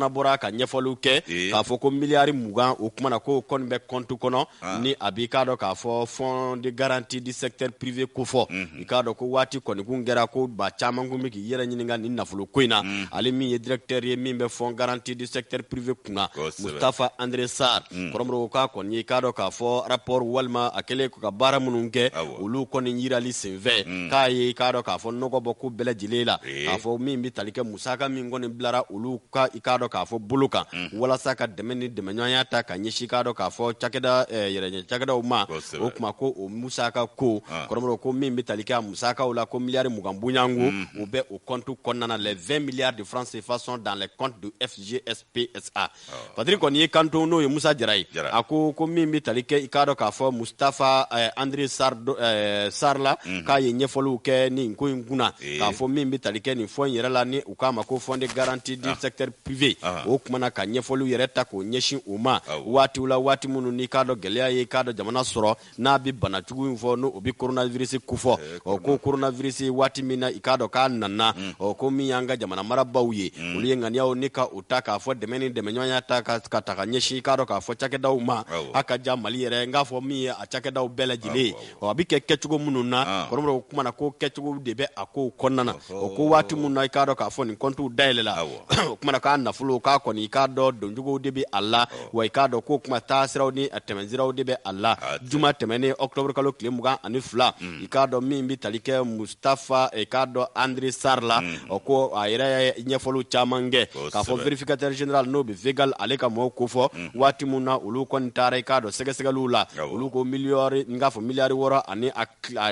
bɔra ka ɲɛfɔliw kɛ k'a fɔ ko miliyari mugan o kuma na ko kɔni bɛ compte kɔnɔ ni a b'i k'a dɔn k'a fɔ fond de garantie du secteur privé kofɔ i k'a dɔn ko waati kɔni kun kɛra ko ba caman kun bɛ k'i yɛrɛ ɲininka nin nafolo ko in na mm. ale min ye directeur ye min bɛ fond garantie du secteur privé kunna Mustafa André Sarr mm. kɔrɔmɔrɔ k'a kɔni ye i k'a dɔn k'a fɔ rapport walima a kɛlen ka baara minnu kɛ olu kɔni yirali senfɛ mm. k'a ye i k'a dɔn k'a fɔ nɔgɔ bɔ ko bɛɛ lajɛlen la eh. k'a fɔ min bɛ tali kɛ musaka min kɔni bilara olu ka i k'a dɔn k'a fɔ bolo kan walasa ka dɛmɛ ni dɛmɛɲɔgɔnya ta ka ɲɛsin k'a dɔn k'a fɔ cakɛda eh, yɛrɛɲɛ cakɛdaw ma o kuma ko o musaka ko ah. kɔrɔmɔrɔ ko min bɛ tali kɛ a musakaw la ko miliyari mugan bɔɲɔgɔnko o mm-hmm. bɛ o compte kɔnɔna la les vingt milliards de francs CFA sont dans les comptes de FGSPSA patri kɔni y'i kanto n'o ye Musa Jara ye a ko ko min bɛ tali kɛ i k'a dɔn k'a fɔ Mustafa eh, André eh, Sarr la mm-hmm. k'a ye ɲɛfɔliw kɛ nin ko in kunna eh. k'a fɔ min bɛ tali kɛ nin fond in yɛrɛ la ni u k'a ma ko fond de garantie du ah. secteur privé ah. o kumana ka ɲɛfɔliw yɛrɛ ta k'o ɲɛsin o ma ah. waatiw la waati minnu n'i k'a dɔn gɛlɛya ye i k'a dɔn jamana sɔrɔ n'a bɛ bana jugu in fɔ n'o bɛ coronavirus kofɔ eh, ɔ ko coronavirus waati min na i k'a dɔn k'a nana hmm. ɔ ko min y'an ka jamana marabaw ye hmm. olu ye ŋaniyaw ni ka o ta k'a fɔ dɛmɛ ni dɛmɛɲɔgɔnya ta ka taa ka ɲɛsin i k'a dɔn k'a fɔ cakɛdaw ma a ka ca Mali yɛrɛ n k'a fɔ min ye a cakɛdaw bɛɛ lajɛlen ye ɔ a bɛ kɛ kɛcogo minnu na ah. kɔrɔmɔrɔ o kuma na ko kɛcogo de bɛ a kow kɔnɔna na o ko waati minnu na i k'a dɔn k'a fɔ nin kɔntiw dayɛlɛla o kuma na k'a nafolo k'a kɔni i k'a dɔn doncogow de bɛ a la wa i k'a dɔn k'o kuma taasiraw ni a tɛmɛsiraw de bɛ a la juma tɛmɛnen octobre kalo tile mugan ani fila hmm. i k'a dɔn min bɛ tali kɛ tafa eh, i k'a dɔn André Sarr la hmm. o ko a yɛrɛ ye ɲɛfɔliw caman kɛ k'a fɔ vérificateur général n'o bɛ Végal ale ka mɔgɔw kofɔ hmm. waati min na olu kɔni taara i k'a dɔn sɛgɛsɛgɛliw la olu ko miliyari n k'a fɔ miliyari wɔrɔ ani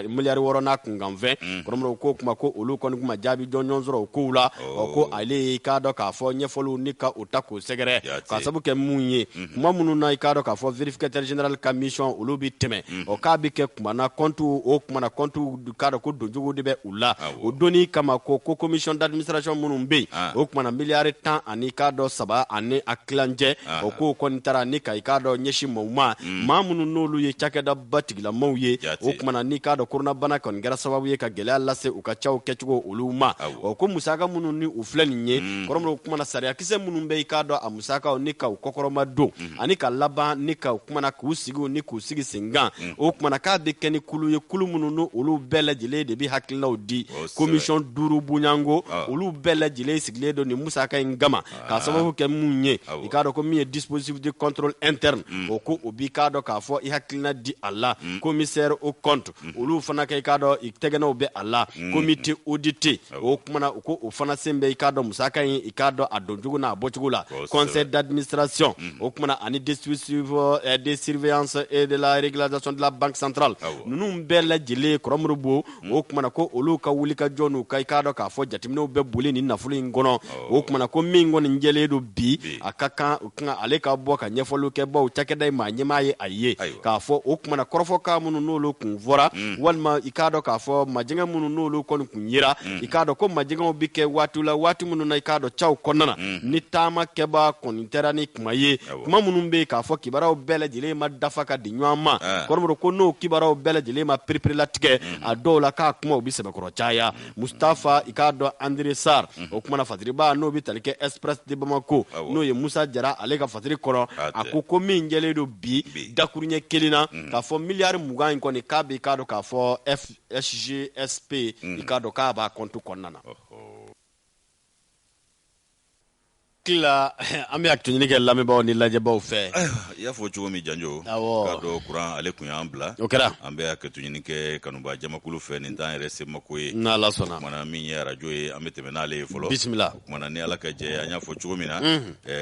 miliyari wɔrɔ n'a kunkanfɛn hmm. kɔrɔmɔrɔ ko kuma ko olu kɔni kun ma jaabi jɔnjɔn sɔrɔ o kow la o ko oh. ale y'i k'a dɔn k'a fɔ ɲɛfɔliw ni ka o ta k'o sɛgɛrɛ k'a sabu kɛ mun ye kuma minnu na i k'a dɔn k'a fɔ vérificateur général ka mission olu bɛ tɛmɛ ɔ k'a bɛ kɛ kuma na compte o kuma na compte k'a dɔn ko doncogo de bɛ u la o donni kama ko ko commission d'administration minnu bɛ yen o kuma na miliyari tan ani k'a dɔn saba ani a kilancɛ o kow kɔni taara ni ka i k'a dɔn ɲɛsin maaw ma maa minnu n'olu ye cakɛda ba tigilamaw ye o kuma na n'i k'a dɔn koronabana kɔni kɛra sababu ye ka gɛlɛya lase u ka caw kɛcogo olu ma ɔ ko musaka minnu ni u filɛ nin ye kɔrɔmɔrɔ kuma na sariyakisɛ minnu bɛ i k'a dɔn a Sakaw ni k'u kɔkɔrɔmadon ani ka laban ni ka kumana k'u sigi ni k'u sigi senkan o kumana k'a bɛ kɛ ni kulu ye kulu minnu n' olu bɛɛ lajɛlen de bɛ hakilinaw di komisɔn duuru bɔɲɔgɔnko olu bɛɛ lajɛlen sigilen don ni musaka in kama ka sababu kɛ mun ye i k'a dɔn ko min ye dispositif de contrôle interne o ko o b'i k'a dɔn k'a fɔ i hakilina di a la commissaire aux comptes mhm. olu fana kɛ i k'a dɔn i tɛgɛnɔw bɛ a la mhm. comité audité o kumana u ko o fana sen bɛ i k'a dɔn musaka in i k'a dɔn a doncogo n'a bɔcogo la conseil d'administration mhm. o kumana ani district eh, de surveillance et de la régularisation de la banque centrale ninnu bɛɛ lajɛlen kɔrɔmuru bo o kumana ko olu ka wulikajɔ n'u ka i k'a dɔn k'a fɔ jateminɛw bɛ boli nin nafolo in kɔnɔ o kumana ko min kɔni jɛlen don bi a ka kan ale ka bɔ ka ɲɛfɔliw kɛ baw cakɛda in maa ɲɛmaa ye a ye k'a fɔ o kumana kɔrɔfɔkan minnu n'olu kun fɔra walima i k'a dɔn k'a fɔ majɛgɛ minnu n'olu kɔni kun yera i k'a dɔn ko majɛgɛw bɛ kɛ waati la waati minnu na i k'a dɔn caw kɔnɔna na ni taama kɛbaa kɔni tɛra ni kuma ye kuma minnu bɛ yen k'a fɔ kibaruyaw bɛɛ lajɛlen ma dafa ka di ɲɔgɔn ma kɔrɔbɔrɔ ko n'o kibaruyaw bɛɛ lajɛlen ma pereperelatigɛ a dɔw la k'a kumaw bɛ sɛbɛkɔrɔ caya mustafa i k'a dɔn andre sar mhm. o kumana fasiriba n'o bɛ tali kɛ express de bamako n'o ye musa jara ale ka fasiri kɔnɔ a ko ko min jɛlen don bi dakuruɲɛ kelen na mhm. k'a fɔ miliyari mugan in kɔni k'a bɛ i k'a dɔn k'a fɔ fsgsp i mhm. k'a dɔn k'a b'a kɔntu kɔnɔna na an bɛ hakɛto ɲini kɛ lamɛnbaaw ni lajɛbaw fɛ i y'a fɔ cogo min janjo k'a dɔn kuran ale kun y'an bila o kɛra an bɛ hakɛto ɲini kɛ kanubajamakulu fɛ nin t'an yɛrɛ se mako ye n'ala sɔnna kumana min ye arajo ye an bɛ tɛmɛ n'ale ye fɔlɔ bisimila kumana ni ala ka jɛ an y'a fɔ cogo min na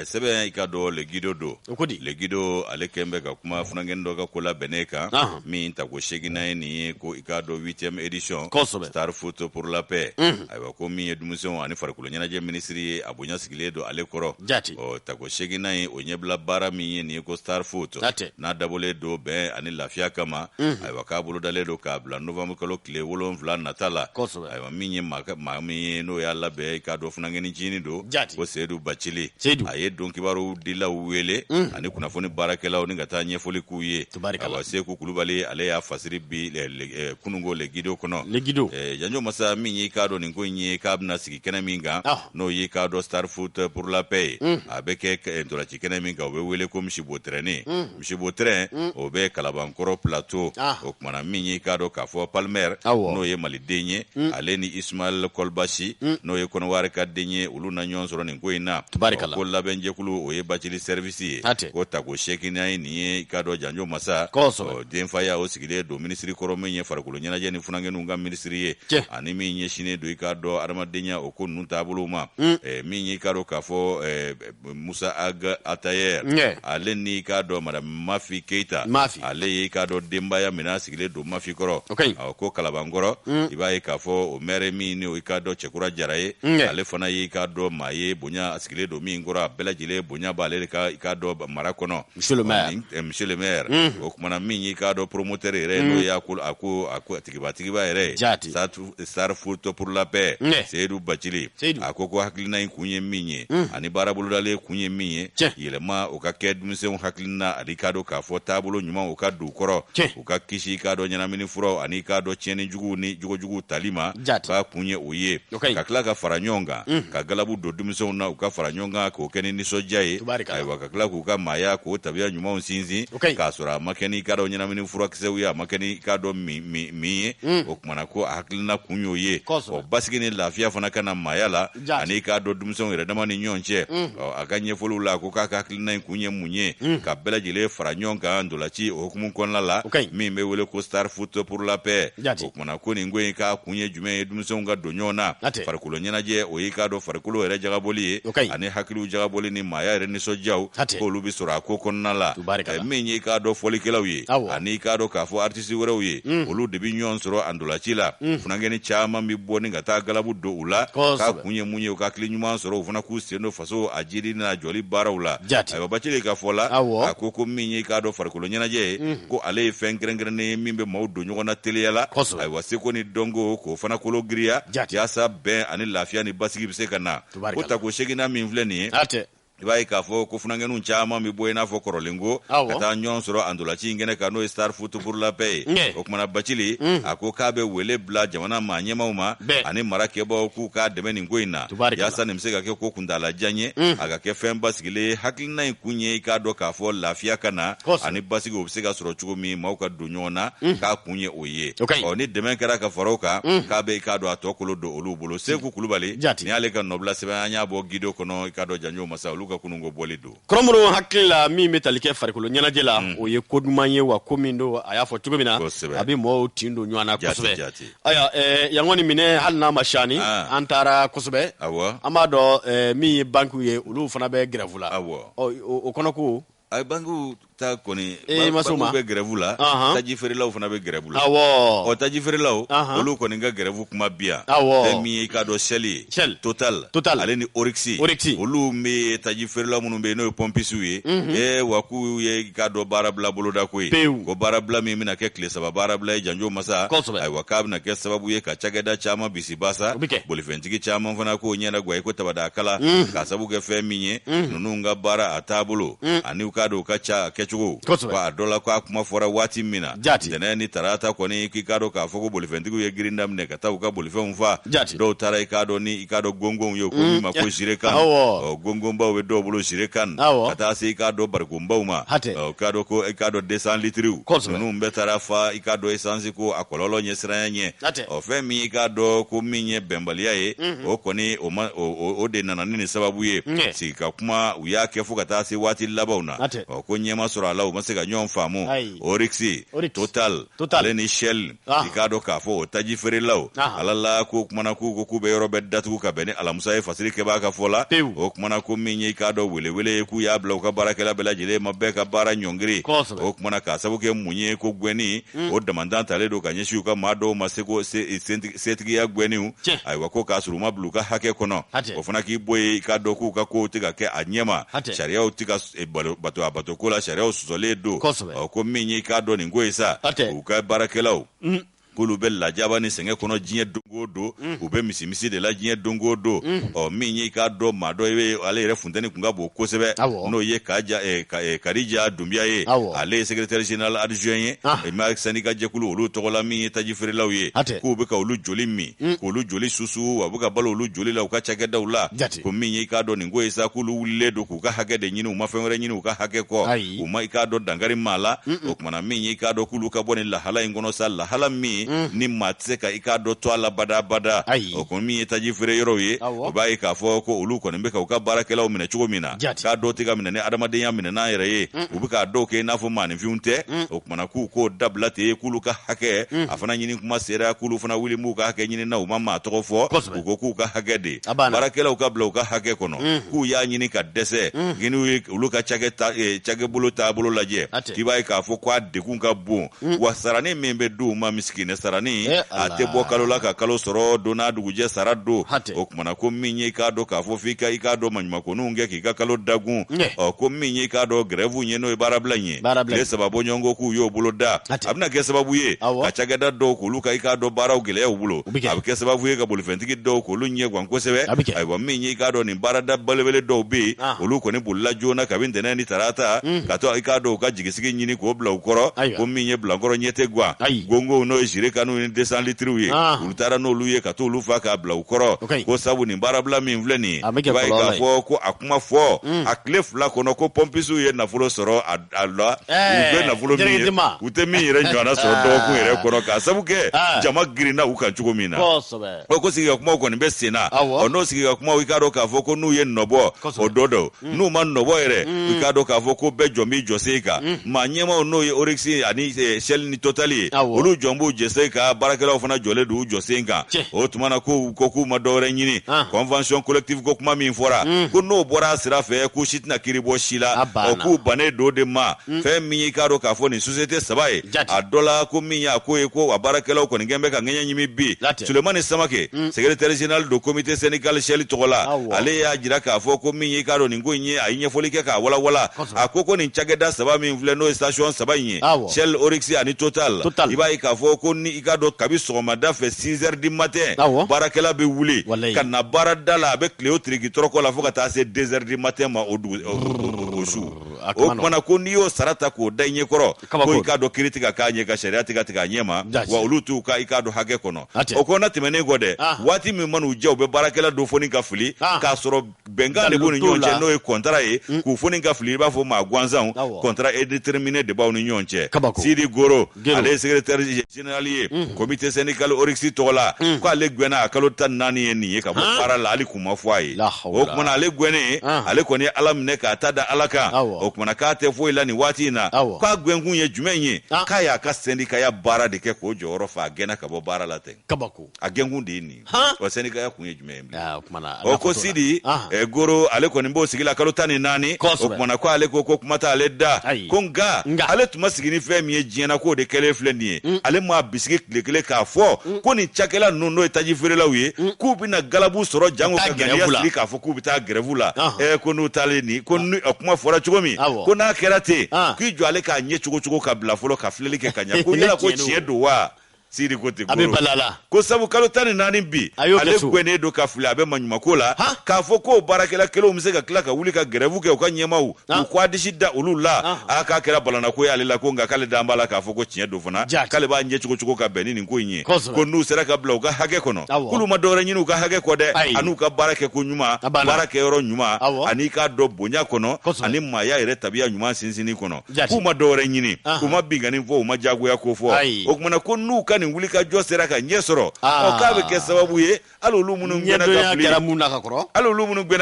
sɛbɛn i k'a dɔn le guido don ko di le guido ale kɛlen bɛ ka kuma funankɛni dɔ ka ko labɛnnen kan min tako seginnan ye nin ye ko i k'a dɔn huitième édition ko star foot pour la paix ayiwa ko min ye denmisɛnw ani farikolo ɲɛnajɛ minisiri ye a bonya sigilen don ale kɔrɔ jati ɔ tako seginnan ye o ɲɛbila baara min ye nin ye ko star foot n'a dabɔlen don bɛn ani lafiya kama mhm. ayiwa k'a bolodalen don k'a bila novanburu kalo tile wolonfila nata la ayiwa min ye maa min ye n'o y'a labɛn i k'a dɔn funankɛni ncinin don ko seyidu bacili a ye don kibaru dilaw wele mhm. ani kunnafoni baarakɛlaw ni ka taa ɲɛfɔli k'u ye Tabarikala. Awa Seku Kulubali ale y'a fasiri bi le- le- eh, kununko Le Guido kɔnɔ. Le Guido. Eh, Janjo Masa min y'i k'a dɔn nin ko in ye k'a bɛna sigi kɛnɛ min kan Ah. n'o y'i k'a dɔn Star Foot pour la paix ye. A bɛ kɛ k- eh, ntolaci kɛnɛ min kan o bɛ wele ko misibo tɛrɛnnin. Misibo tɛrɛn o bɛ Kalabankɔrɔ plateau. Ah. O kumana min y'i k'a dɔn k'a fɔ Palmer Awɔ. n'o ye Maliden ye ale ni Ismaël Kolbasi n'o ye Kɔnɔwari ka den ye olu na ɲɔgɔn sɔrɔ nin ko in na. Tabarikala. Ɔ, Ko labɛnjɛkulu o ye bacili service si ye Hatɛ. ko tako seginan ye nin ye i k'a dɔn janjo masa Kosɛbɛ. ɔ, denfaya o sigilen don minisiri kɔrɔ min ye farikolo ɲɛnajɛ ni funankɛninw ka minisiri ye Cɛ. ani min ɲɛsinnen don i k'a dɔn adamadenya o ko ninnu taabolow ma Eh, min y'i k'a dɔn k'a fɔ eh, musa ag atayɛr Ɲɛ. ale ni k'a dɔn madame mafi keyita Mafi. ale ye k'a dɔn denbaya min a sigilen don mafi kɔrɔ O ka ɲi. Ɔ, ko kalabankɔrɔ i b'a ye k'a fɔ o maire min ni o i k'a dɔn cɛkura jara ye Ɲɛ. ale fana y'i k'a dɔn maa ye bonya sigilen don min kɔrɔ a bɛɛ lajɛlen bonya b'ale de kan i k'a dɔn mara kɔnɔ Monsieur le maire. Nin- eh, monsieur le maire o kumana min y'i k'a dɔn promoteur yɛrɛ ye n'o y'a ko a ko a ko a tigiba tigiba yɛrɛ ye Jaati. Satu- star foot pour la paix Ne. seyidu bacili Seyidu. a ko ko hakilina in kun ye min ye ani baara bolodalen kun ye min ye Tiɲɛ. yɛlɛma o ka kɛ denmisɛnw hakilina ani k'a dɔn k'a fɔ taabolo ɲuman o ka don u kɔrɔ Tiɲɛ. u ka kisi i k'a dɔn ɲɛnamini furaw ani k'a dɔn tiɲɛni juguw ni jogojuguw tali ma k'a kun ye o ye ka tila ka fara ɲɔgɔn kan mm. ka galabu don denmisɛnw na u ka fara ɲɔgɔn kan k'o kɛ ni nisɔndiya ye ayiwa ka tila k'u ka maaya k'o tabiya ɲumanw sinsin k'a sɔrɔ a ma kɛ n'i k'a dɔn ɲɛnamini furakisɛw ye a ma kɛ n'i k'a dɔn min ye mm. o kumana ko a hakilina kun y'o ye basigi ni lafiya fana ka na maaya la Jaa. ani k'a dɔn denmisɛnw yɛrɛ dama ni ɲɔgɔn cɛ Ɔ, a ka ɲɛfɔliw la ko k'a ka hakilina in kun ye mun ye ka bɛɛ lajɛlen fara ɲɔgɔn kan ntolaci o hukumu kɔnɔna la O ka ɲi. min bɛ wele ko star foot pour la paix Jate. o kumana ko nin ko in k'a kun ye jumɛn ye denmisɛnw ka don ɲɔgɔn na Jate. farikolo ɲɛnajɛ o y'i k'a dɔn farikolo yɛrɛ jagabɔli ye O ka ɲi. ani hakiliw jagabɔli ni maaya yɛrɛ nisɔndiyaw Jate. k'olu bɛ sɔrɔ a ko kɔnɔna la Tubaarikala. Eh, min y'i k'a dɔn fɔlikɛlaw ye Awɔ. ani k'a dɔn k'a fɔ artiste tisi wɛrɛw ye mm. olu de bɛ ɲɔgɔn sɔrɔ a ntolaci la mm. funankɛni caman bɛ bɔ ni ka taa galabu don u la k'a kun ye mun ye u ka hakili ɲuman sɔrɔ u fana k'u sen don faso a jiidi n'a jɔli baaraw la ayiwa bacili ka fɔ la a ko ko min ye k'a dɔn farikolo ɲɛnajɛ ye mm. ko ale ye fɛn kɛrɛnkɛrɛnnen ye min bɛ maaw don ɲɔgɔn na teliya la ayiwa seko ni dɔnko k'o fana kolo giriya yaasa bɛn ani lafiya ni basigi bɛ se ka na ko tako seginan min filɛ nin ye i b'a ye k'a fɔ ko funankɛninw caman bɛ bɔ i n'a fɔ kɔrɔlenko ka taa ɲɔgɔn sɔrɔ a ntolaci in kɛnɛ kan n'o ye star foot pour la paix ye o kumana bacili mm. a ko k'a bɛ wele bila jamana maa ɲɛmaaw ma ani mara kɛbaaw k'u k'a dɛmɛ nin ko in na yaasa nin bɛ se ka kɛ ko kuntaalajan ye mm. a ka kɛ fɛn basigilen hakilina in kun ye i k'a dɔn k'a fɔ lafiya ka na ani basigi o bɛ se ka sɔrɔ cogo min maaw ka don ɲɔgɔn na mm. k'a kun ye o ye i ye O ka ɲi. ɔ ni dɛmɛ kɛra ka fara o kan k'a bɛ i k'a dɔn a tɔ kolo don olu bolo seku kulubali Jati. nin y'ale ka nɔbila sɛbɛn an y'a bɔ gido kɔnɔ i k'a dɔn janjo masa olu ka kununko bɔli don kɔrɔmuru hakili la min bɛ tali kɛ farikolo ɲɛnajɛ la o ye ko duman ye wa ko min don a y'a fɔ cogo min na Kosɛbɛ. a bɛ mɔɔw tin don ɲɔgɔn na Jati, kosɛbɛ jati. ayiwa eh, yan kɔni minɛ hali n'a ma siyani Ah. an taara kosɛbɛ Awɔ. an b'a dɔn eh, min ye bankiw ye olu fana bɛ gɛrɛfu la Awɔ. Ɔ, o o kɔnɔ ko a ye bankiw ta kɔni Ee, i ma s'o ma? bankiw bɛ grève la Ahan. taji feerelaw fana bɛ grève la awɔ ɔ taji feerelaw Ahan. olu kɔni ka grève kuma bi yan Awɔ. fɛn min ye i k'a dɔn Shell ye Shell. Total Total. ale ni Oryx Oryx. olu bɛ taji feerela minnu bɛ yen n'o ye pɔmpisiw ye ee wa k'u ye i k'a dɔn baarabila bolodako ye Pewu. ko baarabila min bɛna kɛ tile saba baarabila ye janjo masa Kosɛbɛ. ayiwa k'a bɛna kɛ sababu ye ka cakɛda caman bisi basa bolifɛntigi caman fana k'o ɲɛnagwa i ko tabada kala k'a sabu kɛ fɛn min ye ninnu ka baara a taabolo ani k'a dɔn u ka cakɛcogo a dɔ la k'a kuma fɔra waati min na tɛnɛn ni tarata kɔni k'i k'a dɔn k'a fɔ ko bolifɛntigiw ye girin daminɛ ka taa u ka bolifɛnw fa dɔw taara i k'a dɔn ni i k'a dɔn gongonw ye ko min ma ko jerrican gongonbaw bɛ dɔw bolo jerrican ka taa se i k'a dɔn barikonbaw ma k'a dɔn ko i k'a dɔn deux cents litiriw ninnu bɛɛ taara fa i k'a dɔn esansi ko a kɔlɔlɔ ɲɛsiranya ɲɛ ɔ fɛn min i k'a dɔn ko min ye bɛnbaliya ye o kɔni o ma o- o o de nana ni nin sababu ye Ɲɛ. sigi ka kuma u y'a kɛ fo ka taa se waati labanw na Hatɛ. ɔ ko ɲɛ ma sɔrɔ a la u ma se ka ɲɔgɔn faamu Ayi. Oryx Oryx. Total Total. ale ni Shell Ah. i k'a dɔn k'a fɔ o taji feerelaw Ah. ala la k'u kumana k'u ko k'u bɛ yɔrɔ bɛɛ datugu ka bɛn ni alamusa ye fasiri kɛbaa ka fɔ la Pewu. o kumana ko min ye i k'a dɔn welewele ye k'u y'a bila u ka baarakɛla bɛɛ lajɛlen ma bɛɛ ka baara ɲɔngiri Kosɛbɛ. o kumana k'a sabu kɛ mun ye ko gwɛnni Mm. o damantan talen don ka ɲɛsin u ka maa dɔw ma seko setigiya gwɛniw ayiwa ko k'a sɔrɔ u ma bila u ka hakɛ kɔnɔ o fana k'i b'o ye i k'a dɔn k'u ka kow tɛ ka kɛ a ɲɛma sariyaw tɛ ka e, bato a bato ko la sariyaw sɔsɔlen don ko min ye i k'a dɔn nin ko ye sa u ka baarakɛlaw mm. k'olu bɛ lajaba ni sɛgɛn kɔnɔ diɲɛ don o don mm. u bɛ misimisi de la diɲɛ don o don ɔ min ye i k'a dɔn maa dɔ i bɛ ale yɛrɛ funteni kun ka bon kosɛbɛ n'o ye Karija Dunbiya ye ale ye secrétaire général adjoint ye ma syndicat jɛkulu olu tɔgɔ la min ye taji feerelaw ye k'u bɛ ka olu joli min k'olu joli susu wa u bɛ ka balo olu joli la u ka cakɛdaw la ko min y'i k'a dɔn nin ko ye sa k'olu wulilen don k'u ka hakɛ de ɲini u ma fɛn wɛrɛ ɲini u ka hakɛ kɔ u ma i k'a dɔn dankari maa la kumana min ye i k'a dɔn k'olu ka bɔ nin lahala in kɔnɔ sa lahala min mm. ni maa tɛ se ka i k'a dɔn to a la badabada o kɔni min ye taji feere yɔrɔw ye o b'a ye k'a fɔ ko olu kɔni bɛ ka u ka baarakɛlaw minɛ cogo min na k'a dɔw tɛ ka minɛ ni adamadenya minɛnan yɛrɛ ye u bɛ ka dɔw kɛ i n'a fɔ maaninfinw tɛ mm. o kumana k'u k'o dabila ten k'olu ka hakɛ mm. a fana ɲini kuma sera k'olu fana wuli b'u ka hakɛ ɲini na u ma maa tɔgɔ fɔ u ko k'u ka hakɛ de baarakɛlaw ka bila u ka hakɛ kɔnɔ k'u y'a ɲini ka dɛsɛ ko n'i ye olu ka cakɛ eh, bolo taabolo lajɛ k'i b'a ye k'a fɔ ko a degun ka bon mm. wa sarani min bɛ di u ma misikinɛ sarani eh, a tɛ bɔ kalo la ka kalo sɔrɔ don n'a dugujɛ sara don o kumana ko min ye i k'a dɔn k'a fɔ f'i ka i k'a dɔn maɲumakoninw kɛ k'i ka kalo dagun ɔ ko min ye i k'a dɔn grève ye n'o ye baarabila in ye tile saba bɔ ɲɔgɔn kɔ k'u y'o bolo da a bɛna kɛ sababu ye ka cakɛda dɔw k'olu ka i k'a dɔn baaraw gɛlɛyaw bolo a bɛ kɛ sababu ye ka bolifɛntigi dɔw k'olu ɲɛ gan kosɛbɛ ayiwa min ye i k'a dɔn nin baarada belebele dɔw bɛ yen ah. olu kɔni bolila joona kabini ntɛnɛn ni tarata hmm. ka taa i k'a dɔn u ka jigisigi ɲini k'o bila u kɔrɔ ko min ye bilankɔrɔ ɲɛ tɛ gan gongow n'o ye jerikanw ni desan litiriw ye ah. olu taara n'olu ye ka t'olu fa k'a bila u kɔrɔ ko sabu nin baarabila min filɛ nin ye i b'a ye k'a fɔ ko a kuma fɔ hmm. a tile fila kɔnɔ ko pɔmpisiw ye nafolo sɔrɔ a a la u bɛ nafolo min ye u tɛ min yɛrɛ ɲɔgɔnna sɔrɔ dɔgɔkun yɛrɛ kɔnɔ k'a sabu kɛ jama girinna u kan cogo min na ko sigikakumaw kɔni bɛ sen na ɔ n'o sigikakumaw i k'a dɔn k'a fɔ ko n'u ye nɔ bɔ o dɔ don n'u ma nɔ bɔ yɛrɛ i k'a dɔn k'a fɔ ko bɛɛ jɔn b'i jɔsen kan maa ɲɛmaw n'o ye oriksi ani shɛli ni totali ye olu jɔn b'u jɔsen kan baarakɛlaw fana jɔlen don u jɔsen kan o tuma na ko ko k'u ma dɔwɛrɛ ɲini convention collective ko kuma min fɔra ko n'o bɔra a sira fɛ ko si tɛna kiri bɔ si la o k'u bannen don de ma mm. fɛn min y'i k'a dɔn k'a fɔ nin sosiyete saba ye a dɔ la ko min y'a ko ye ko a baarakɛlaw kɔni kɛn bɛ ka ŋɛɲɛ ɲimi bi sulemani samake mm. sekretɛri zenerali don komite sɛndikali shɛli tɔgɔ la ale y'a jira k'a fɔ ko min y'i k'a dɔn nin ko in ye a ye ɲɛfɔli kɛ k'a walawala a ko ko nin cakɛda saba min filɛ n'o ye sitasiyɔn saba in ye shɛl oriksi ani total i b'a ye k'a fɔ ko ni i k'a dɔn kabi sɔgɔmada fɛ 6 heures du matin baarakɛla bɛ wuli ka na baarada la a bɛ tilen o tiriki tɔrɔkɔ la fo ka taa se 2 heures du matin ma o su o kumana ko n'i y'o sara ta k'o da i ɲɛ kɔrɔ ko i k'a dɔn kiri tɛ ka k'a ɲɛ ka sariya tɛ ka tigɛ a ɲɛ ma wa olu t'u ka i k'a dɔn hakɛ kɔnɔ o ko na tɛmɛnen kɔ dɛ ah. waati min man'u diya u bɛ baarakɛla dɔ foni ka fili ah. k'a sɔrɔ bɛnkan de b'u ni ɲɔgɔn cɛ n'o ye kɔntara ye mm. k'u foni ka fili i b'a fɔ maa gansanw contrat indéterminé de b'aw ni ɲɔgɔn cɛ sidi goro Geno. ale ye secrétaire général ye comité syndical Oryx tɔgɔ la ko ale gwɛnna a kalo tan ni naani ye nin ye ka bɔ Han. baara la hali kun ma fɔ a ye La hawla. o kumana ale gwɛnnen Han. ale kɔni ye ala minɛ k'a ta da ala kan Awɔ. o kumana k'a tɛ foyi la nin waati in na Awɔ. k'a gwɛnkun ye jumɛn ye Ah. k'a y'a ka sendikaya baara de kɛ k'o jɔyɔrɔ fa a gɛnna ka bɔ baara la ten kabako a gɛnkun de ye nin wa sendikaya kun ye jumɛn ye ko sidi goro ale kɔni b'o sigi la kalo tan ni naani o kumana ko ale ko ko kuma t'ale da ko nka ale tun ma sigi ni fɛn min ye diɲɛna k'o de kɛlen filɛ nin ye mm. ale m'a bisigi tile kelen k'a fɔ mm. ko nin cakɛla ninnu n'o ye taji feerelaw ye mm. k'u bɛna galabu sɔrɔ janko ka ŋaniya sigi k'a fɔ k'u bɛ taa gɛrɛvu la ko n'u taalen nin ko kuma fɔra cogo min ko n'a kɛra ten k'i jɔ ale k'a ɲɛ cogo cogo ka bila fɔlɔ ka filɛli kɛ ka ɲɛ ko yala ko tiɲɛ don wa sidi ko ten ko sabu kalo tan ni naani bi ale gwɛnnen don ka fili a bɛ maɲumako la k'a fɔ ko baarakɛla kelenw bɛ se ka tila ka wuli ka gɛrɛvu kɛ u ka ɲɛmaw k'u k'u disi da olu la a k'a kɛra balanako y'ale la ko nka k'ale dan b'a la k'a fɔ ko tiɲɛ don fana k'ale b'a ɲɛ cogo cogo ka bɛn ni nin ko in ye ko n'u sera ka bila u ka hakɛ kɔnɔ k'olu ma dɔwɛrɛ ɲini u ka hakɛ kɔ dɛ an'u ka baara kɛ ko ɲuman baara kɛyɔrɔ ɲuman an'i k'a dɔn bonya kɔnɔ ani maaya yɛrɛ tabiya ɲuman sinsinni kɔnɔ Jati. k'u ma dɔwɛrɛ ɲini Ahan. u ma binkanni fɔ u ma jagoya ko fɔ Ayi. o kumana ko n'u ka nin wulikajɔ sera ka ɲɛ sɔrɔ Ah. ɔ, k'a bɛ kɛ sababu ye hali olu minnu gɛnna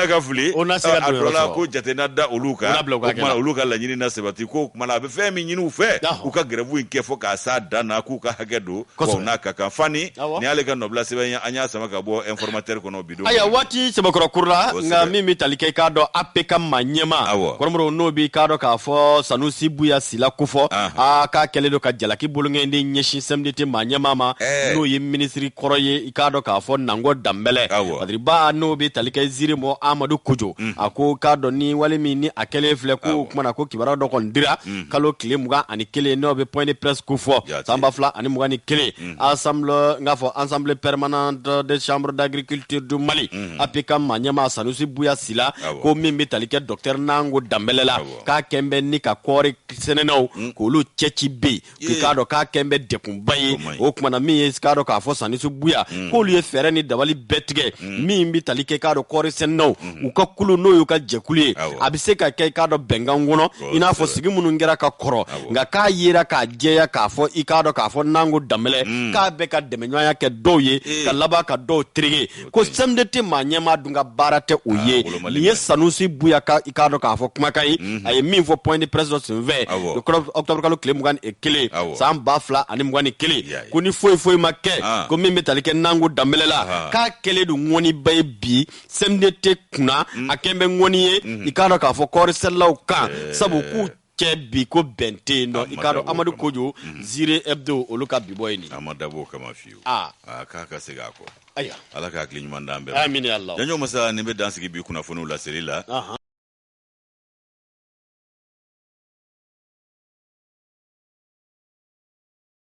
ka fili a dɔ la. ko jate na da olu kan o kumana olu ka laɲini na sabati ko o kumana a bɛ fɛn min ɲini u fɛ Awɔ. u ka gɛrɛbu in kɛ fɔ k'a s'a dan na k'u ka hakɛ don Kosɛbɛ. wa n'a ka kan fani Awɔ. nin y'ale ka nɔbila sɛbɛn ye an y'a sama ka bɔ informateur kɔnɔ bi aya waati sɛbɛkɔrɔ kurula nka min bɛ tali kɛ i k'a dɔn apcam maa ɲɛmaa kɔrɔmɔrɔ n'o b'i k'a dɔn k'a fɔ sanusi buya sila kofɔ a k'a kɛlen don ka jalaki bolonkɔni de ɲɛsin cmdt maa ɲɛmaa ma n'o ye minisiri kɔrɔ ye i k'a dɔn k'a fɔ nango danbɛlɛ badiriba n'o bɛ tali kɛ zire mɔ amadu kojo mm. a ko k'a dɔn ni wale min ni a kɛlen filɛ ko kumana ko kibaruya dɔ kɔni dira mm. kalo tile mugan ani kelen n'o bɛ point de presse kofɔ san ba fila ani mugan ni kelen mm. assemblée n k'a fɔ assemblée permanente des chambres d'agriculture du mali apcam maa ɲɛmaa sanusi buya sila ko min bɛ tali kɛ docteur nango danbɛlɛ la k'a kɛn bɛ ni ka kɔɔri sɛnɛnaw k'olu cɛ ci bɛ yen k'a dɔn k'a kɛn bɛ degunba ye o kumana min ye k'a dɔn k'a fɔ sanusi buya k'olu ye fɛɛrɛ ni dabali bɛɛ tigɛ mm. min bɛ tali kɛ k'a dɔn kɔɔri sɛnɛnaw mm. u ka kulu n'o y'u ka jɛkulu ye a bɛ se ka kɛ k'a dɔn bɛnkan kɔnɔ i n'a fɔ sigi minnu kɛra ka kɔrɔ nka k'a yera k'a jɛya k'a fɔ i k'a dɔn k'a fɔ nango danbɛlɛ mm. k'a bɛ ka dɛmɛɲɔgɔnya kɛ dɔw ye eh. ka laban ka dɔw terege ko cmdt maa ɲɛmaa dun ka baara tɛ o ah, ye nin ye sanusi buya ka i k'a dɔn k'a fɔ kumakan ye mm-hmm. a ye min fɔ point de presse dɔ senfɛ octobre kalo tile mugan ni kelen san ba fila ani mugan ni kelen ko ni foyi foyi ma kɛ ah. ko min bɛ tali kɛ nango danbɛlɛ la ah. k'a kɛlen don ŋɔniba ye bi cmdt kunna mm. a kɛn bɛ ŋɔni ye mm-hmm. i k'a dɔn k'a fɔ kɔɔrisɛnɛlaw kan eh. sabu k'u cɛ bi ko bɛn tɛ yen nɔ i k'a dɔn amadu kojo mm-hmm. zire hebdo olu ka bi bɔ ye nin a ma dabɔ o kama fiyewu ah. k'a ka segin a kɔ ayiwa ala ka hakili ɲuman d'an bɛɛ amina ya ala janjo masa nin bɛ dan sigi bi kunnafoniw laseli la